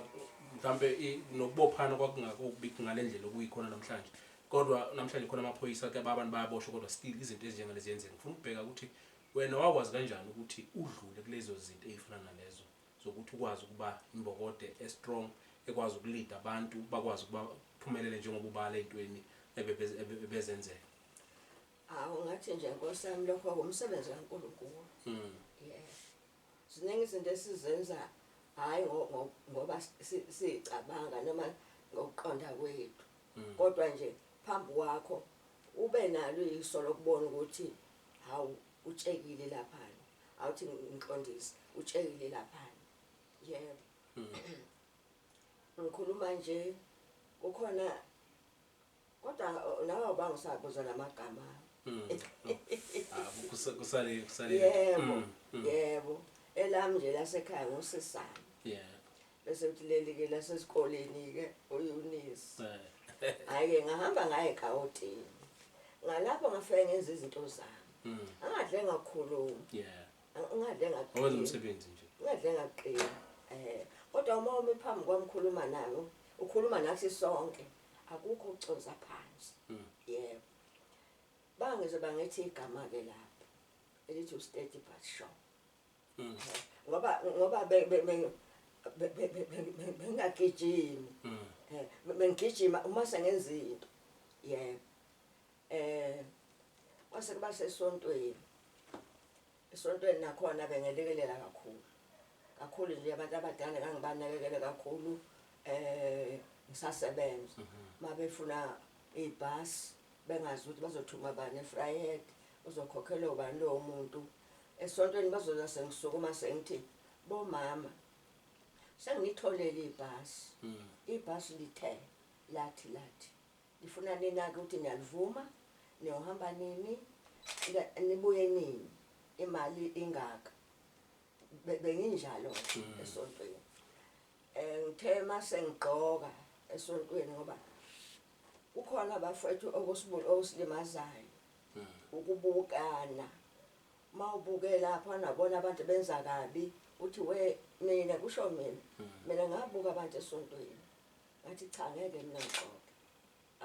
mhlampe i- nokubophana kwakungakho okubi ngale ndlela okuyikhona namhlanje kodwa namhlanje khona amaphoyisa ke abantu bayaboshwa kodwa still izinto ezinjengalezi ziyenzeka ngifuna ukubheka ukuthi wena wakwazi kanjani ukuthi udlule kulezo zinto ey'fana nalezo zokuthi ukwazi ukuba imbokode e-strong ekwazi ukulida abantu bakwazi ukuba phumelele njengoba ubala ey'ntweni ebebe- ebe- ebezenzeka Awu ngathi nje Nkosi yami lokho kumsebenzi kaNkulunkulu. Mm. Yeah. Ziningi izinto esizenza hhayi ngoba siyicabanga noma ngokuqonda kwethu, mm. kodwa nje phambi kwakho ube nalo iso lokubona ukuthi hawu utshekile laphana awuthi ngiqondise utshekile laphana yebo mm. ngikhuluma nje kukhona Kodwa nawe ubanga usabuza lamagama. Mm. Ah, kusale kusale. Yebo. Mm, mm. Yebo. Elami nje lasekhaya ngosisana. Yeah. Bese uthi leli ke lasesikoleni ke uYunisi. Eh. Hayi ngahamba ngaye eGauteng. Ngalapho ngafike ngenza izinto zami. Mm. Angadle ngakhuluma. Yeah. Angadle ngaqina. Owenza umsebenzi nje. Angadle ngaqina. Eh. Kodwa uma umi phambi kwami khuluma nami, ukhuluma nathi sonke. akukho ukuconsa phansi mm. yebo bangeze bangethi igama ke lapho elithi usteady but show mm. ngoba ngoba bengingagijimi mm. eh, bengigijima uma sengenza into yebo eh kwase kuba sesontweni Esontweni nakhona bengelekelela kakhulu kakhulu nje abantu abadala ngangibanakekele kakhulu eh ngisasebenza mhm. mabefuna ibus bengazi ukuthi bazothuma bani efryhead uzokhokhela ubani lowo muntu esontweni bazoza sengisukuma sengithi bomama sengitholele ibhasi mhm. ibhasi lithe lathi lathi Ngifuna ninake ukuthi niyalivuma, niyohamba nini, nibuye nini, imali ingaka. Benginjalo mm. esontweni. Eh ngithe mase ngigqoka esontweni ngoba kukhona abafethu okusibulu okusilimazayo mm. ukubukana mawubuke lapho anabona abantu benza kabi uthi we mina kusho mina mm. mina ngabuka abantu esontweni Ngathi cha ngeke mina ngixoxe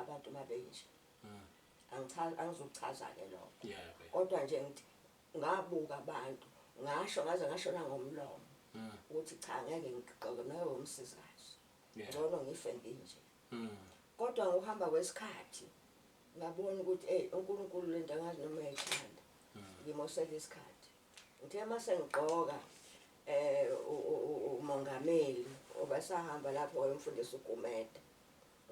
abantu uma benje. Mm. Angichazi angizokuchaza ke lokho. Yeah. Kodwa nje ngithi ngabuka abantu ngasho ngaze ngasho nangomlomo mm. ukuthi cha ngeke ngixoxe nawe umsizazi. Ngcono ngife nginje. Mm. Kodwa ngokuhamba kwesikhathi ngabona ukuthi hey uNkulunkulu lento angazi noma ethanda. Ngimosela isikhathi. Uthe uma sengigqoka um umongameli obesahamba lapho wayomfundisa uGumede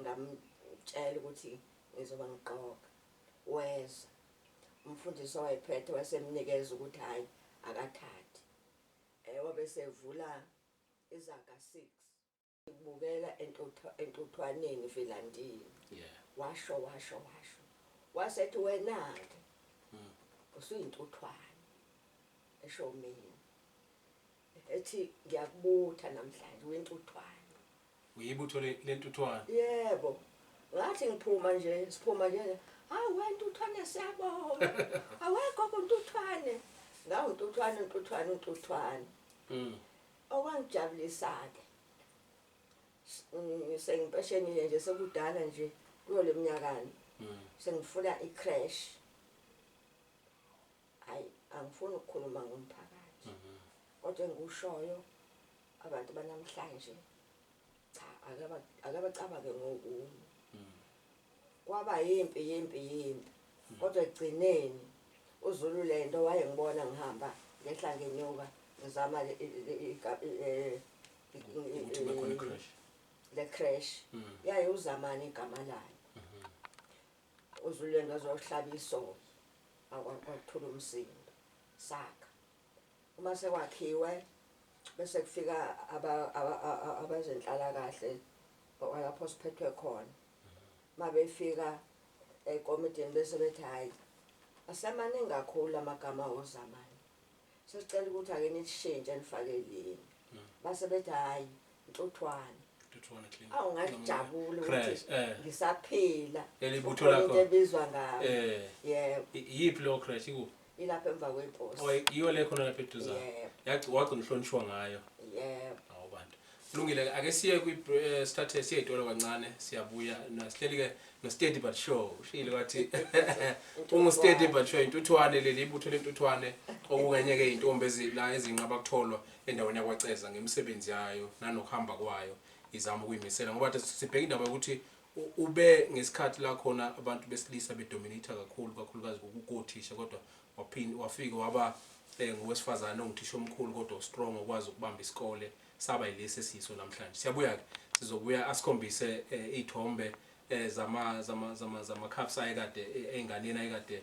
ngamtshela ukuthi ngizoba ngigqoka weza umfundisi owayephethe wasemnikeza ukuthi hhayi akathathe um wabe sevula izaga six Ngikubukela entuthu entuthwaneni Vilandini. Yeah. Washo washo washo. Wasethi wenake. Mm. Usuyintuthwane. Esho mina. Ethi ngiyakubutha namhlanje wintuthwane. Uyibutho le lentuthwane. Yebo. Ngathi ngiphuma nje siphuma nje. Hawu wentuthwane siyabonga. Awekho kuntuthwane. Ngawu ntuthwane ntuthwane ntuthwane. Mm. Okwangijabulisa-ke sengimpeshenile nje sekudala nje kuyo le mnyakani mm. sengifuna i-crash hayi angifuni ukukhuluma ngomphakathi mm-hmm. kodwa engikushoyo abantu banamhlanje Cha akabacabange ngokunye. Mm. Kwaba yimpi yimpi yimpi. Mm. Kodwa ekugcineni uZulu lento wayengibona ngihamba ngehla ngenyuka ngizama le crash mm. yaye uzamani igama layo mm-hmm. uzululendo azohlaba isoka akwakuthula umsindo saka Uma sekwakhiwe bese kufika abezenhlalakahle kwalapho siphethwe khona. Uma befika ekomidini bese bethi hhayi asemaningi kakhulu amagama wozamani. Sesicela ukuthi ake nilishintshe nifake elinye. Base bethi hhayi Ntuthwane. Ntuthwane Clinic. Awu ngajabula ukuthi eh. ngisaphila. Elibutho lakho. Into ebizwa ngayo. Eh. Yebo. Yiphi lo crash ikuphi? Ilapha emva kwepost. Oh, iyo le khona lapha eduza. Yebo. Yagcina wagcina uhlonishwa ngayo. Yebo. Awu bantu. Kulungile ake siye kwi eh, sithathe siye itolo kancane siyabuya nasihleli ke no steady but show ushile wathi ungu steady but show intuthwane leli ibutho lentuthwane okungenye ke intombi ezila ezinqaba kutholwa endaweni yakwaCeza ngemisebenzi yayo nanokuhamba kwayo izama ukuyimisela ngoba the sibheka indaba yokuthi u- ube ngesikhathi la khona abantu besilisa bedominate kakhulu kakhulukazi kukothisha kodwa waphinde wafike waba eh, ngowesifazane onguthisha omkhulu kodwa strong okwazi ukubamba isikole saba yilesi esiyiso namhlanje siyabuya ke sizobuya asikhombise eh, iy'thombe eh, zama zama zama zama cups ayekade eh, ey'nganeni ayekade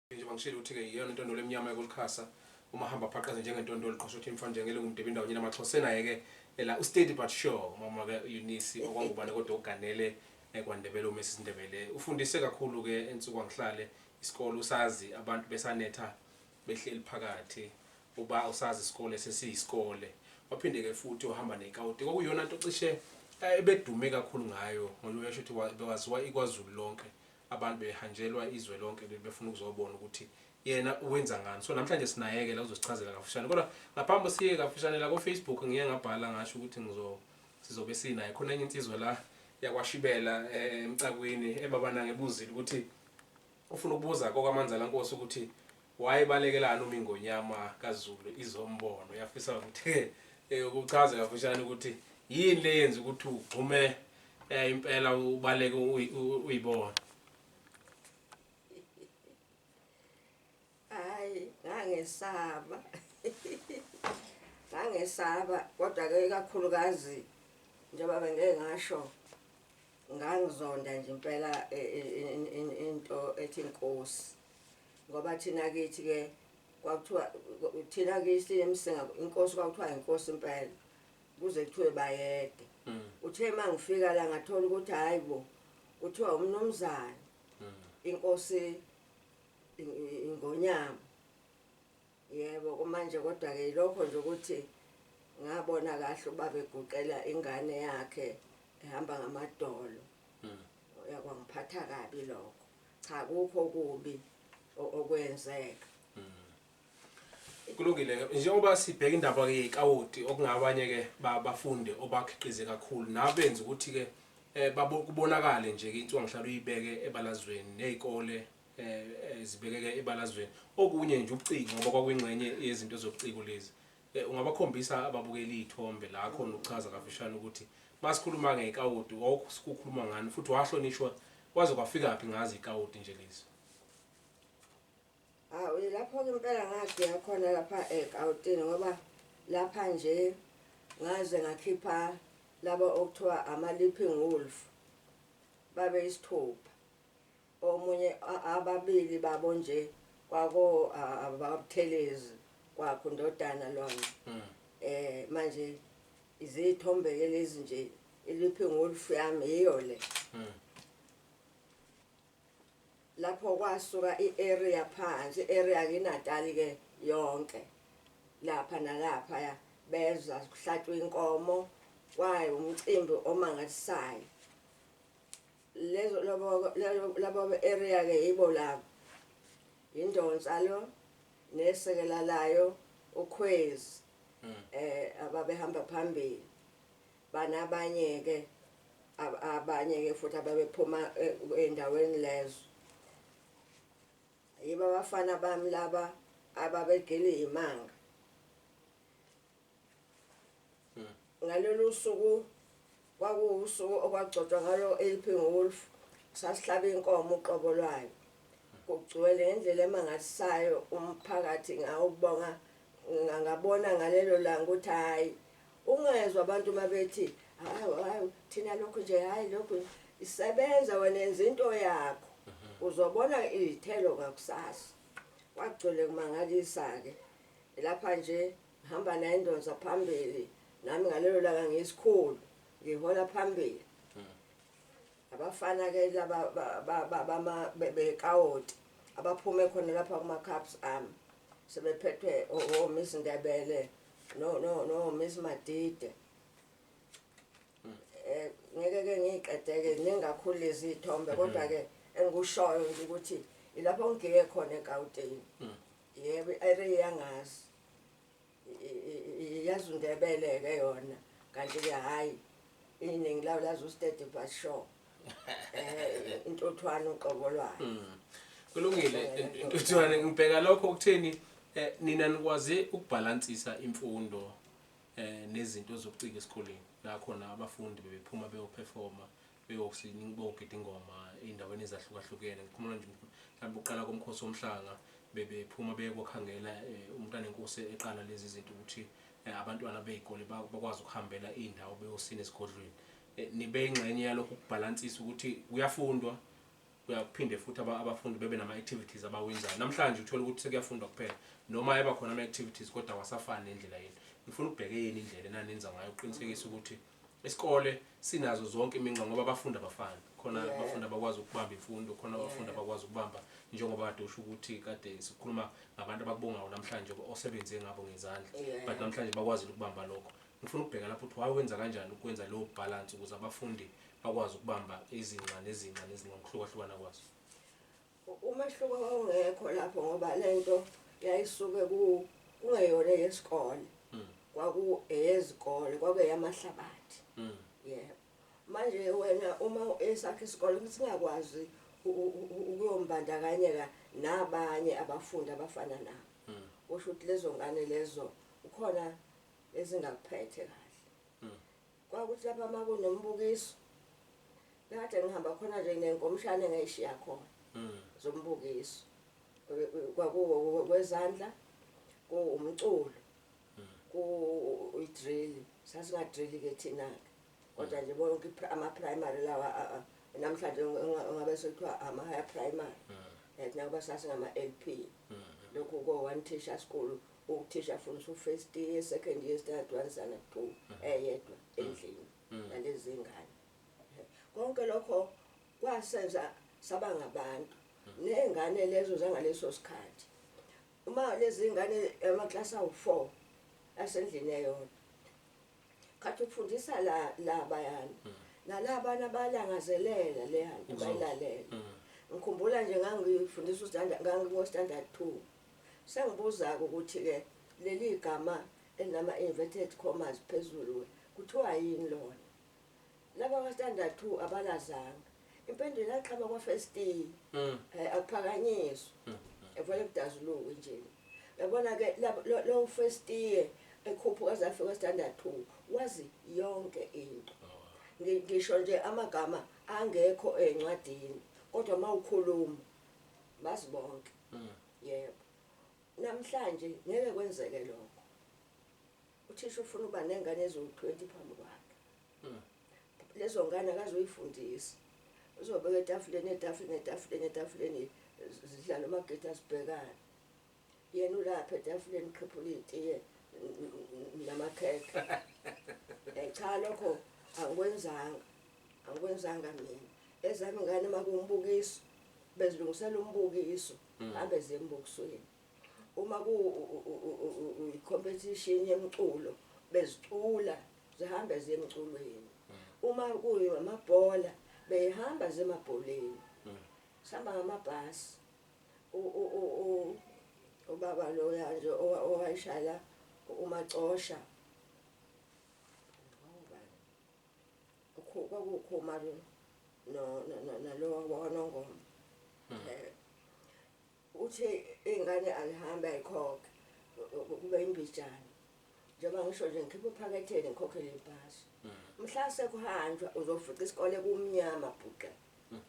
Njengoba ngishilo ukuthi-ke yiyona intondolo emnyama yokulukhasa uma hamba phaqaze njengentondolo qosha ukuthi imfana njengele ngumdebe indawo nyina maxhosa enaye-ke ela ustedi but sure umama-ke unisi okwangubane kodwa uganele ekwandebele uma esisindebele ufundise kakhulu-ke ensuku angihlale isikole usazi abantu besanetha behleli phakathi uba usazi isikole sesiyisikole waphinde-ke futhi uhamba nekawuti kwakuyona nto cishe eh, ebedume kakhulu ngayo ngoba uyasho ukuthi bewaziwa ikwazulu lonke Abantu behanjelwa izwe lonke leli befuna ukuzobona ukuthi yena wenza ngani. So namhlanje sinayeke la uzosichazela kafushane. Kodwa ngaphambi siye kafushane la ko Facebook ngiye ngabhala ngasho ukuthi ngizo sizobe sinaye khona enye insizwa la yakwashibela eh, emcakwini ebabana ngebuzile ukuthi ufuna ukubuza kokwamanzala nkosi ukuthi Wayibalekelani uma iNgonyama kaZulu izombona? Uyafisa ukuthi eh, ukuchaze kafushane ukuthi yini le yenza ukuthi ugxume eh, impela ubaleke uyi- u- uyibona? Hayi, ngangesaba. Ngangesaba kodwa ke ikakhulukazi njengoba bengeke ngasho ngangizonda nje impela eh, eh, in- in- into ethi inkosi. Ngoba thina kithi ke kwakuthiwa thina kithi emsinga inkosi kwakuthiwa inkosi impela kuze kuthiwe bayede mm. uthe uma ngifika la ngathola ukuthi hhayi bo kuthiwa umnumzane mm. inkosi ingonyama Yebo kumanje kodwa ke ilokho nje ukuthi ngabona kahle ubaba eguqela ingane yakhe ehamba ngamadolo hmm. yakwangiphatha kabi lokho cha kukho kubi okwenzeka hmm. kulungile njengoba sibheka indaba ke yekawoti okungabanye ke bafunde obakhiqize kakhulu nabenza ukuthi ke eh, kubonakale nje ke intswa ngihlala uyibeke ebalazweni nezikole zibekeke ebalazweni okunye nje ucingo ngoba kwakwingxenye yezinto zobuciko lezi eh, ungabakhombisa ababukeli iy'thombe la khona ukuchaza kafishane ukuthi masikhuluma ngekawoti wawukukhuluma ngani futhi wahlonishwa kwaze kwafikaphi ngazi ikawoti nje lezi hawu ah, lapho-ke impela ngagika khona lapha ekawotini ngoba lapha nje ngaze ngakhipha laba okuthiwa ama-lipping wolf babe isithupha Omunye ababili babo nje kwako ababuthelezi kwakho ndodana lona. Mm. Eh manje izithombe ke lezi nje iliphi ngolufu yami yiyo le. Mm. Lapho kwasuka i-area phansi, i-area kiNatal ke yonke. Lapha nalapha ya beza kuhlatshwa inkomo kwaye umcimbi omangalisayo. Lezo labo labo area ke yibo labo. Yindonsa lo nesekela layo ukhwezi. Mm. Eh ababehamba phambili. Banabanye ke abanye ke futhi ababephuma eh, endaweni lezo. Yiba abafana bami laba ababegili imanga. ngalolu suku kwakuwusuku okwagcotshwa ngalo eliphi ngowolf sasihlaba inkomo uqobo lwayo kugcwele ngendlela emangalisayo umphakathi ngawubonga ngabona ngalelo langa ukuthi hhayi ungezwa abantu uma bethi hayi thina lokhu nje hhayi lokhu isebenza wena enza into yakho mhm. uzobona izithelo ngakusasa kwagcwele kumangalisa-ke lapha nje Ngihamba naye indonsa phambili nami ngalelo langa ngiyisikhulu ngihola phambili. Hmm. Abafana ke laba bama bekawoti abaphume khona lapha kuma cups ami sebephethwe o oh, oh, Miss Ndebele no no no Miss Madide. Hmm. Eh ngeke ke ngiqedeke ningakhulu lezi ithombe kodwa ke engikushoyo nje ukuthi ilapho ngigike khona eGauteng. Hmm. Yebo i-area iyangazi. Yazi uNdebele-ke yona kanti-ke hhayi iningi lawo lazi uStedi but sure. Eh intuthwane uqobo lwayo. Mm. Kulungile ntuthwane ngibheka lokho ukutheni eh, nina nikwaze ukubhalansisa imfundo eh nezinto zobuciko esikoleni la khona abafundi bebephuma beyoperforma beyosi beyogida ingoma ey'ndaweni ezahlukahlukene ngikhumula nje mhlawumbe ukuqala komkhosi womhlanga bebephuma beye kwakhangela um umntanenkosi eqala lezi zinto ukuthi um abantwana bey'kole ba- bakwazi ukuhambela iy'ndawo beyosina esigodlweni um nibe ingxenye yalokhu kubhalansisa ukuthi kuyafundwa kuyaphinde futhi aba- abafundi bebe nama-activities abawenzayo namhlanje uthole ukuthi sekuyafundwa kuphela noma ayeba khona ama-activities kodwa awasafani nendlela yenu ngifuna ukubheke yini indlela enanenza ngayo ukuqinisekisa ukuthi Isikole sinazo zonke iminxa ngoba abafundi abafani. Khona Yeah. abafundi abakwazi ukubamba imfundo, khona abafundi Yeah. abakwazi ukubamba njengoba kade usho ukuthi kade sikhuluma ngabantu abakubongayo namhlanje osebenze ngabo ngezandla. Yeah. But namhlanje bakwazile ukubamba lokho. Ngifuna ukubheka lapho ukuthi wawenza kanjani ukwenza leyo balance ukuze abafundi bakwazi ukubamba izinqa nezinqa nezinqa ngokuhlukahlukana kwazo. Umehluko wawungekho lapho ngoba lento yayisuke ku kungeyona yesikole. Mm. Kwaku eyezikole, kwaku eyamahlabathi. Mm. Yebo. Manje wena uma esakhe isikole singakwazi ukuyombandakanyeka nabanye abafundi abafana nabo. Mm. Kusho ukuthi lezo ngane lezo ukhona ezingakuphethe kahle. Kwakuthi lapha uma kunombukiso kade ngihamba khona nje ngenkomshane ngayishiya khona mm. zombukiso kwezandla kuwumculo mm. ku-drill sasingadrill ke thina-ke kodwa mm. nje bonke ama-primary lawa namhlanje ngabe sekuthiwa ama-higher primary nakuba sasingama-l p lokhu ko-one teacher school Uthisha afundisa u-first year, second year, standard one, standard two, mm. eyedwa mm. endlini mm. nalezi zingane. Konke lokho kwasenza saba ngabantu. Ney'ngane lezo zangaleso sikhathi. Uma lezi ngane amaklasi awu-four asendlini eyodwa. Khathi ukufundisa la la bayana. Nalabana balangazelela leya nto bayilalela. Ngikhumbula nje ngangifundisa uStandard ngangikuwo-Standard two. Sengibuzake ukuthi ke leli gama elinama inverted commas phezulu ke kuthiwa yini lona. Laba kwa standard two abalazanga. Impendulo yaqhama kwa first year. Eh akuphakanyiswa. Evele kudazulukwe nje. Yabona ke lab lo, lo first year ekhuphuka aze afike kwa standard two wazi yonke into. Ngi, ngisho nje amagama angekho ezincwadini kodwa mawukhuluma bazi bonke. Yebo. Namhlanje ngeke kwenzeke lokho. Uthisha ufuna uba nengane eziwu-20 phambi kwakhe. Lezo ngane akazoyifundisa. Uzobeka etafuleni, etafuleni, etafuleni, etafuleni zidlale umagida zibhekane. Yena ulapha etafuleni uqhephula itiye namakhekhe. Cha lokho angikwenzanga. angikwenzanga mina ezami ngane makuwumbukiso bezilungisela umbukiso hmm. abe zembukisweni uma kuyi-competition yemculo bezicula zihambe zemculweni hmm. uma kuyamabhola beyihamba zemabholeni hmm. sihamba ngamabhasi ubaba loya nje owayishaya umacosha kwakuwukhomari nalowa wakwanongoma hmm. eh, uthi iy'ngane alihambe ayikhokhe kube imbijana njengoba ngisho nje ngikhiphe uphaketheni ngikhokhele ibhasi hmm. mhla sekuhanjwa uzofica isikole kumnyama bhuqa hmm.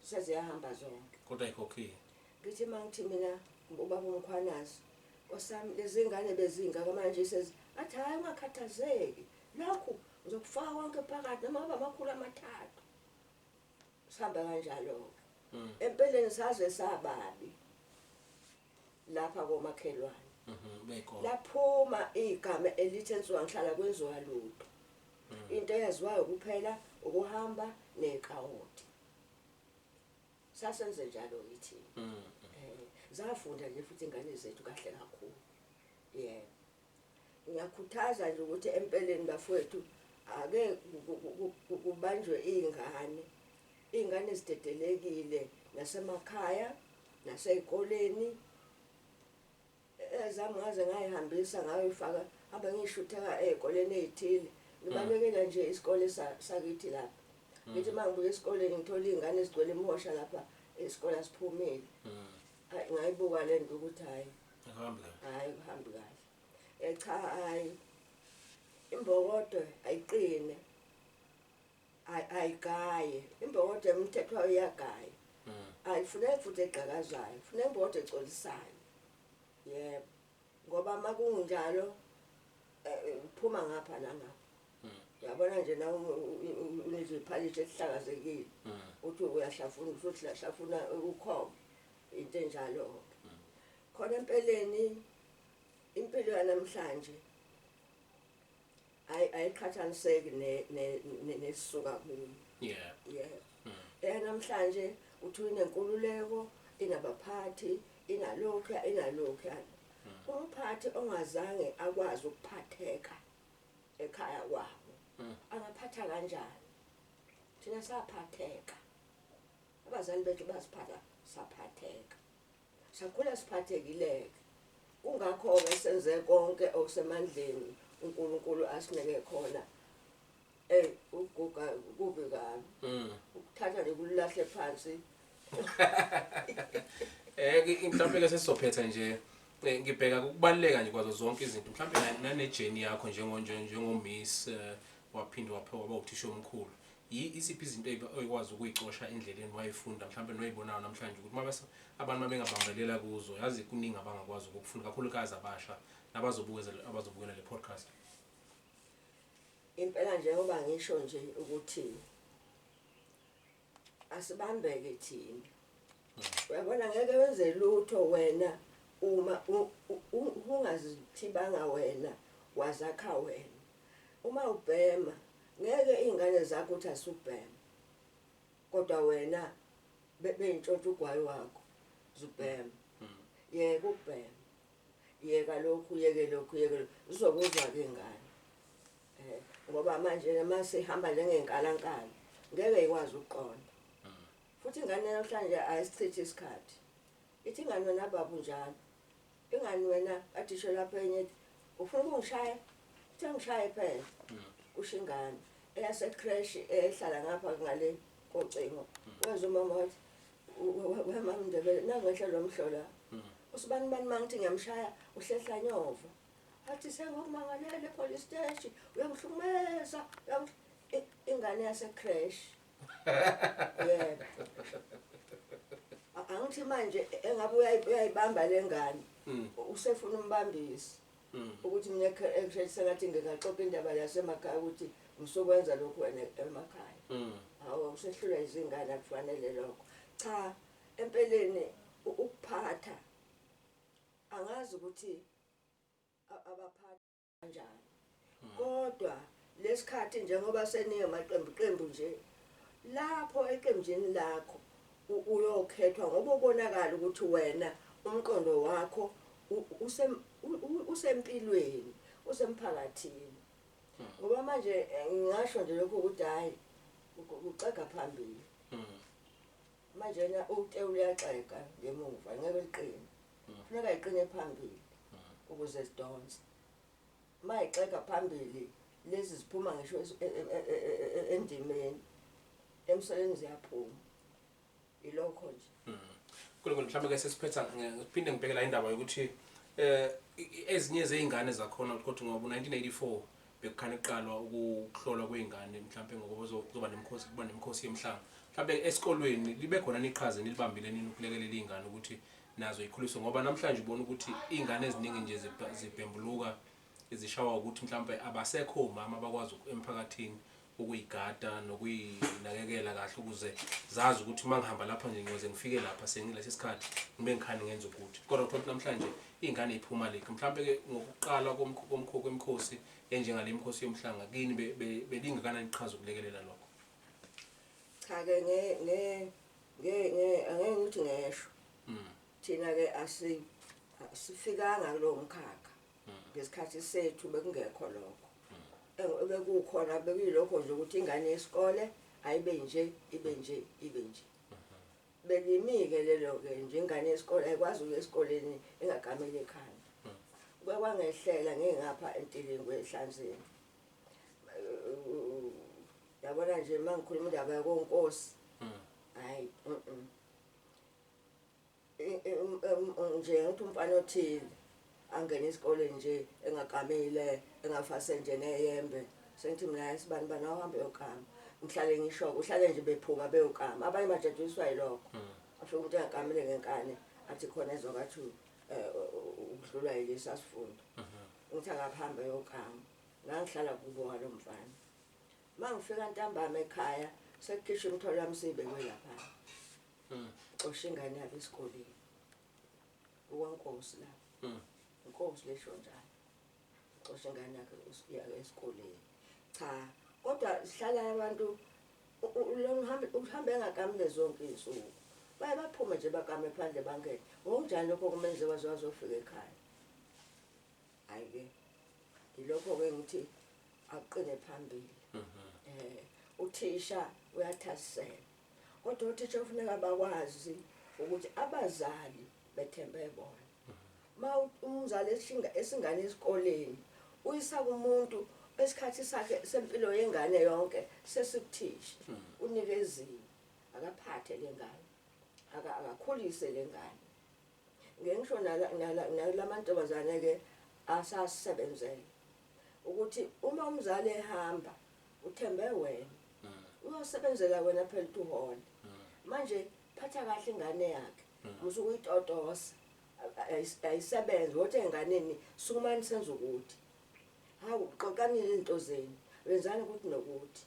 seziyahamba zonke kodwa ayikhokhile ngithi uma ngithi mina ubaba umkhwanazi osami lezi ngane bezingaka manje athi hhayi ungakhathazeki Nakhu ngizokufaka konke phakathi noma kube amakhulu amathathu. Sihambe kanjalo-ke. Mm. Empeleni saze sababi lapha komakhelwane. Mhm, beko. Laphuma igama elithi ensuka ngihlala kwenziwa lutho. Mm. Into eyaziwayo kuphela ukuhamba nekawoti. Sasenze njalo yithina. Mm. Eh, zafunda nje futhi ingane zethu kahle kakhulu. Yebo. Ngiyakhuthaza nje ukuthi empeleni bafowethu ake kubanjwe iy'ngane. Iy'ngane zidedelekile nasemakhaya, nasey'koleni. Ezami ngaze ngay'hambisa ngayoy'faka hamba ngiy'shutheka ey'koleni ey'thile. Ngibalekela nje isikole sakithi lapha. Ngithi uma ngibuya esikoleni ngithola iy'ngane zigcwele imihosha lapha isikole asiphumile. Ay ngayibuka lento ukuthi hayi. Ahambe kahle. Hayi kuhambi kahle. Eh cha hayi. Imbokodo ayiqine. Ay ayigaye. Imbokodo emthethwa uyagaya. Mm. Ayifuneki futhi egqakazayo. Funeka imbokodo exolisayo. Yebo. ngoba makunjalo phuma ngapha nangapha yabona nje na uneziphalishi esihlakazekile mm. uthi uyahlafuna futhi lahlafuna ukhoma into enjalo-ke mm. khona empeleni impilo yanamhlanje ayi ayiqhathaniseki ne ne- ne- nesuka kuyo yeah yeah Mm. eyanamhlanje uthi inenkululeko inabaphathi inalokhuya inalokhuya umphathi ongazange akwazi ukuphatheka ekhaya kwabo Mm. angaphatha kanjani thina saphatheka abazali bethu basiphatha saphatheka Sakhula siphathekileke. Kungakho-ke senze konke okusemandleni uNkulunkulu asineke khona. Ey ukuguga kubi kabi. Mm. Ukuthatha nje kulahle phansi. Eh mhlawumbe ke sesizophetha nje eh, ngibheka ukubaleka nje kwazo zonke izinto mhlawumbe nane journey yakho njengo njengo miss eh, waphinde waphiwa waba uthisha omkhulu Yi, isiphi izinto ebe oyikwazi ukuyicosha endleleni wayifunda mhlawumbe noyibonayo namhlanje ukuthi uma bese abantu mabengabambelela kuzo yazi kuningi abangakwazi ukukufunda kakhulukazi abasha nabazobukeza abazobukela le podcast. Impela njengoba ngisho nje ukuthi asibambeke thina. Uyabona ngeke wenze lutho wena uma u- u- u- ungazithibanga wena wazakha wena. Uma ubhema ngeke iyngane zakho ukuthi asubhema kodwa wena beyintshontsha ugwayi wakho zubhema yeka ukubhema yeka lokhu yeke lokhu yeke lokhu zizokuzwa ke ingane eh ngoba manje uma sihamba njengenkalankala ngeke ikwazi ukuqonda futhi ingane namhlanje ayisichithi isikhathi ithi ingane wena baba unjalo Ingani wena kade usho lapho enye ethi ufuna ukungishaya uthe ngishaye phela kusho ingane eyasecresh ehlala ngapha ngale kocingo wezwa umama wathi wemama ndebele nangenhle lo mhlola usibani bani uma ngithi ngiyamshaya uhlehla nyova athi sengokumangalele police steshi uyangihlukumeza ingane yasecresh yebo A- angithi manje engabe uyayi- uyayibamba le ngane Mm. usefuna umbambisi Mm. ukuthi mina ekushathi sengathi ngikaxoxa indaba yasemakhaya ukuthi ngisokwenza lokhu wena emakhaya Mm. hawu usehlulwa izingane akufanele lokho cha empeleni u- ukuphatha angazi ukuthi a- abaphathi kanjani hmm. kodwa lesikhathi njengoba seniye maqembu qembu nje lapho eqenjini lakho uyokhethwa ngoba ubonakala ukuthi wena umqondo wakho usempilweni usemphakathini hmm. ngoba manje eh, ngingasho nje lokho ukuthi hayi uxega phambili hmm. manje na ute uyaxega ngemuva ngeke liqine funeka iqine phambili ukuze zidonse uma ixega phambili lezi ziphuma ngisho e, e, e, endimeni emseleni ziyaphuma ilokho nje hmm. kulokho mhlawumbe ke sesiphetha ngiphinde ngibheke la indaba yokuthi eh ezinye zeingane zakhona ukuthi ngoba 1984 bekukhane kuqalwa ukuhlolwa kwey'ngane mhlawumpe ngoba kuzoba nemikhosi kuba nemikhosi yemhlanga mhlawumpe esikolweni libe khona niqhaza enilibambile nini ukulekelela iy'ngane ukuthi nazo ikhuliswe ngoba namhlanje ubona ukuthi iy'ngane eziningi nje zibhembuluka zishawa ukuthi mhlawumpe abasekho omama abakwazi emphakathini ukuyigada nokuyinakekela kahle ukuze zazi ukuthi uma ngihamba lapha nje ngiyoze ngifike lapha sengilesi sikhathi ngibe ngikhani ngenza ukuthi kodwa kuthola ukuthi namhlanje iy'ngane y'phuma lekhi mhlawumbe-ke ngokuqala komkhokho kwemikhosi enjengale mkhosi yomhlanga kini belingakanani iqhaza ukulekelela lokho cha-ke angeke ngithi ngesho hmm. thina-ke asifikanga kulowo mkhakha ngesikhathi sethu bekungekho lokho bekukhona bekuyilokho nje ukuthi ingane yesikole ayibe nje ibe nje ibe nje belimi-ke lelo-ke nje ingane yesikole ayikwazi ukuya esikoleni ingagameli ekhanda kwakwangehlela ngingapha entilingwe ehlanzeni yabona nje uma ngikhuluma indaba yakonkosi hayi mm. nje ukuthi umfana othile angene isikole nje engagamile engafase nje neyembe sengithi mina sibani bani awuhambe yogama ngihlale ngisho-ke uhlale nje bephuma beyogama abanye bajatshaliswa yilokho hmm. afike umuntu engagamile ngenkane athi khona ezokwathi um eh, ukudlulwa yilisa sifundo mhm. ngithi akakuhambe yogama ngangihlala kubo ngalo mfana uma ngifika ntambama ekhaya sekukhishwa imitholo yami siyibekwe laphana Mm. Xosha ingane yakhe esikoleni. Uwankosi la. Mm. Inkosi lesho njalo. Xosha ingane yakhe esikoleni. Cha, kodwa sihlala abantu uhambe uhambe ngakamne zonke izinsuku. Baye baphume nje bakame phandle bangene. Ngokunjani lokho kumenze waze wazofika ekhaya? Hayi ke. Ilokho ke ngithi aqine phambili. Mhm. Eh uthisha uyathasisela. Kodwa othisha kufuneka bakwazi ukuthi abazali bethembe bona. Uma umzali eshinga esingane esikoleni uyisa kumuntu esikhathi sakhe sempilo yengane yonke sesibuthisha hmm. unikeziwe akaphathe lengane akakhulise lengane ngengisho nalamantombazane ke asasebenzele ukuthi uma umzali ehamba uthembe wena mm. uyosebenzela wena phela ukuthi uhole mm. manje phatha kahle ingane yakhe mm. musu kuyitotosa ayisebenze wothi enganeni sukumani senza ukuthi hawu xoxani izinto zenu wenzani ukuthi nokuthi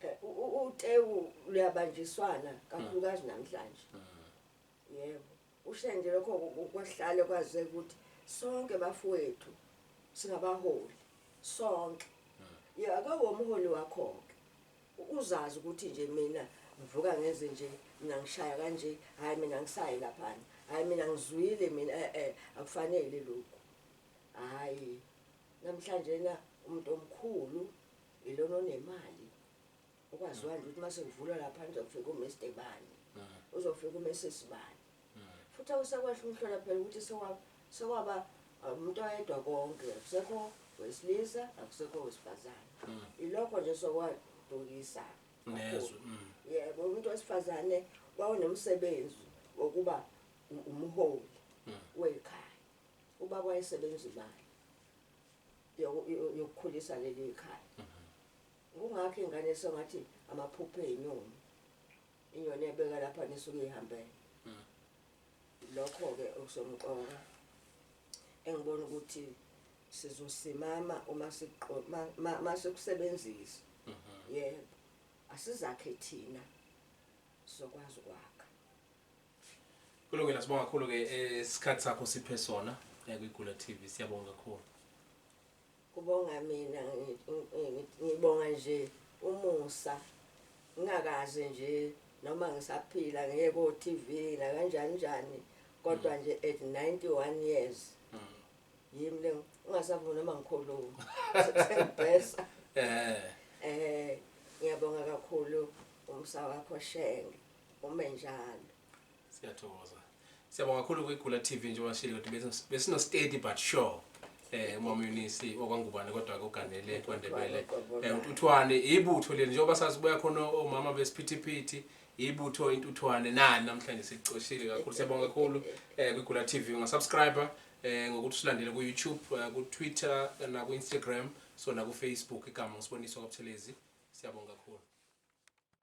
eh, utewu luyabanjiswana kakhulukazi namhlanje Yebo, ushiya nje lokho kwahlale kwazeka ukuthi sonke bafowethu singabaholi sonke. Ye ake womholi wakho-ke uzazi ukuthi nje mina ngivuka ngenze nje mina ngishaya kanje hhayi mina ngisayi laphana hhayi mina ngizwile mina e-e akufanele lokhu hhayi namhlanjena umuntu omkhulu ilona onemali ukwaziwa nje ukuthi uma sekuvulwa lapha nizofika uMr bani uzofika uMrs bani futhi awusakwasho umhlola phela ukuthi sekwaba uh, umuntu oyedwa konke akusekho wesilisa akusekho wesifazane ilokho nje sokwadukisa nezwe mm. yebo umuntu wesifazane wawunomsebenzi wokuba umholi mm. wekhaya uba kwayisebenza imali yokukhulisa leli khaya mm-hmm. Kungakho ingane songathi amaphupho ezinyoni. Inyoni ebeka lapha nisuke ihambele. Hmm. Lokho ke okusomqoka engibona ukuthi sizosimama uma siqoma masikusebenzisa. Mhm. Yebo. Asizakhe thina sizokwazi ukwakha. Kulungile sibonga kakhulu ke eh, isikhathi sakho siphe sona eh, kwiGula TV siyabonga kakhulu. Kubonga mina ngibonga nje umusa ngingakaze nje noma ngisaphila ngiye ko TV nakanjani njani kodwa nje at 91 years yimi le ungasavuni noma ngikhuluma sengibhesa eh eh ngiyabonga kakhulu umsa wakho shenge ume njalo Siyathokoza. Siyabonga kakhulu kwiGula TV njengoba ngishilo ukuthi besi- besino steady but sure. Eh umama Eunice okwangubane kodwa koganele kwaNdebele. Eh uNtuthwane ibutho leli njengoba sazi buya khona omama besiphithiphithi ibutho intuthwane nani namhlanje sicoshile kakhulu siyabonga kakhulu eh kwiGula TV unga subscriber eh ngokuthi usilandele ku YouTube eh, ku Twitter na ku Instagram so na ku Facebook igama usiboniso kwaButhelezi siyabonga kakhulu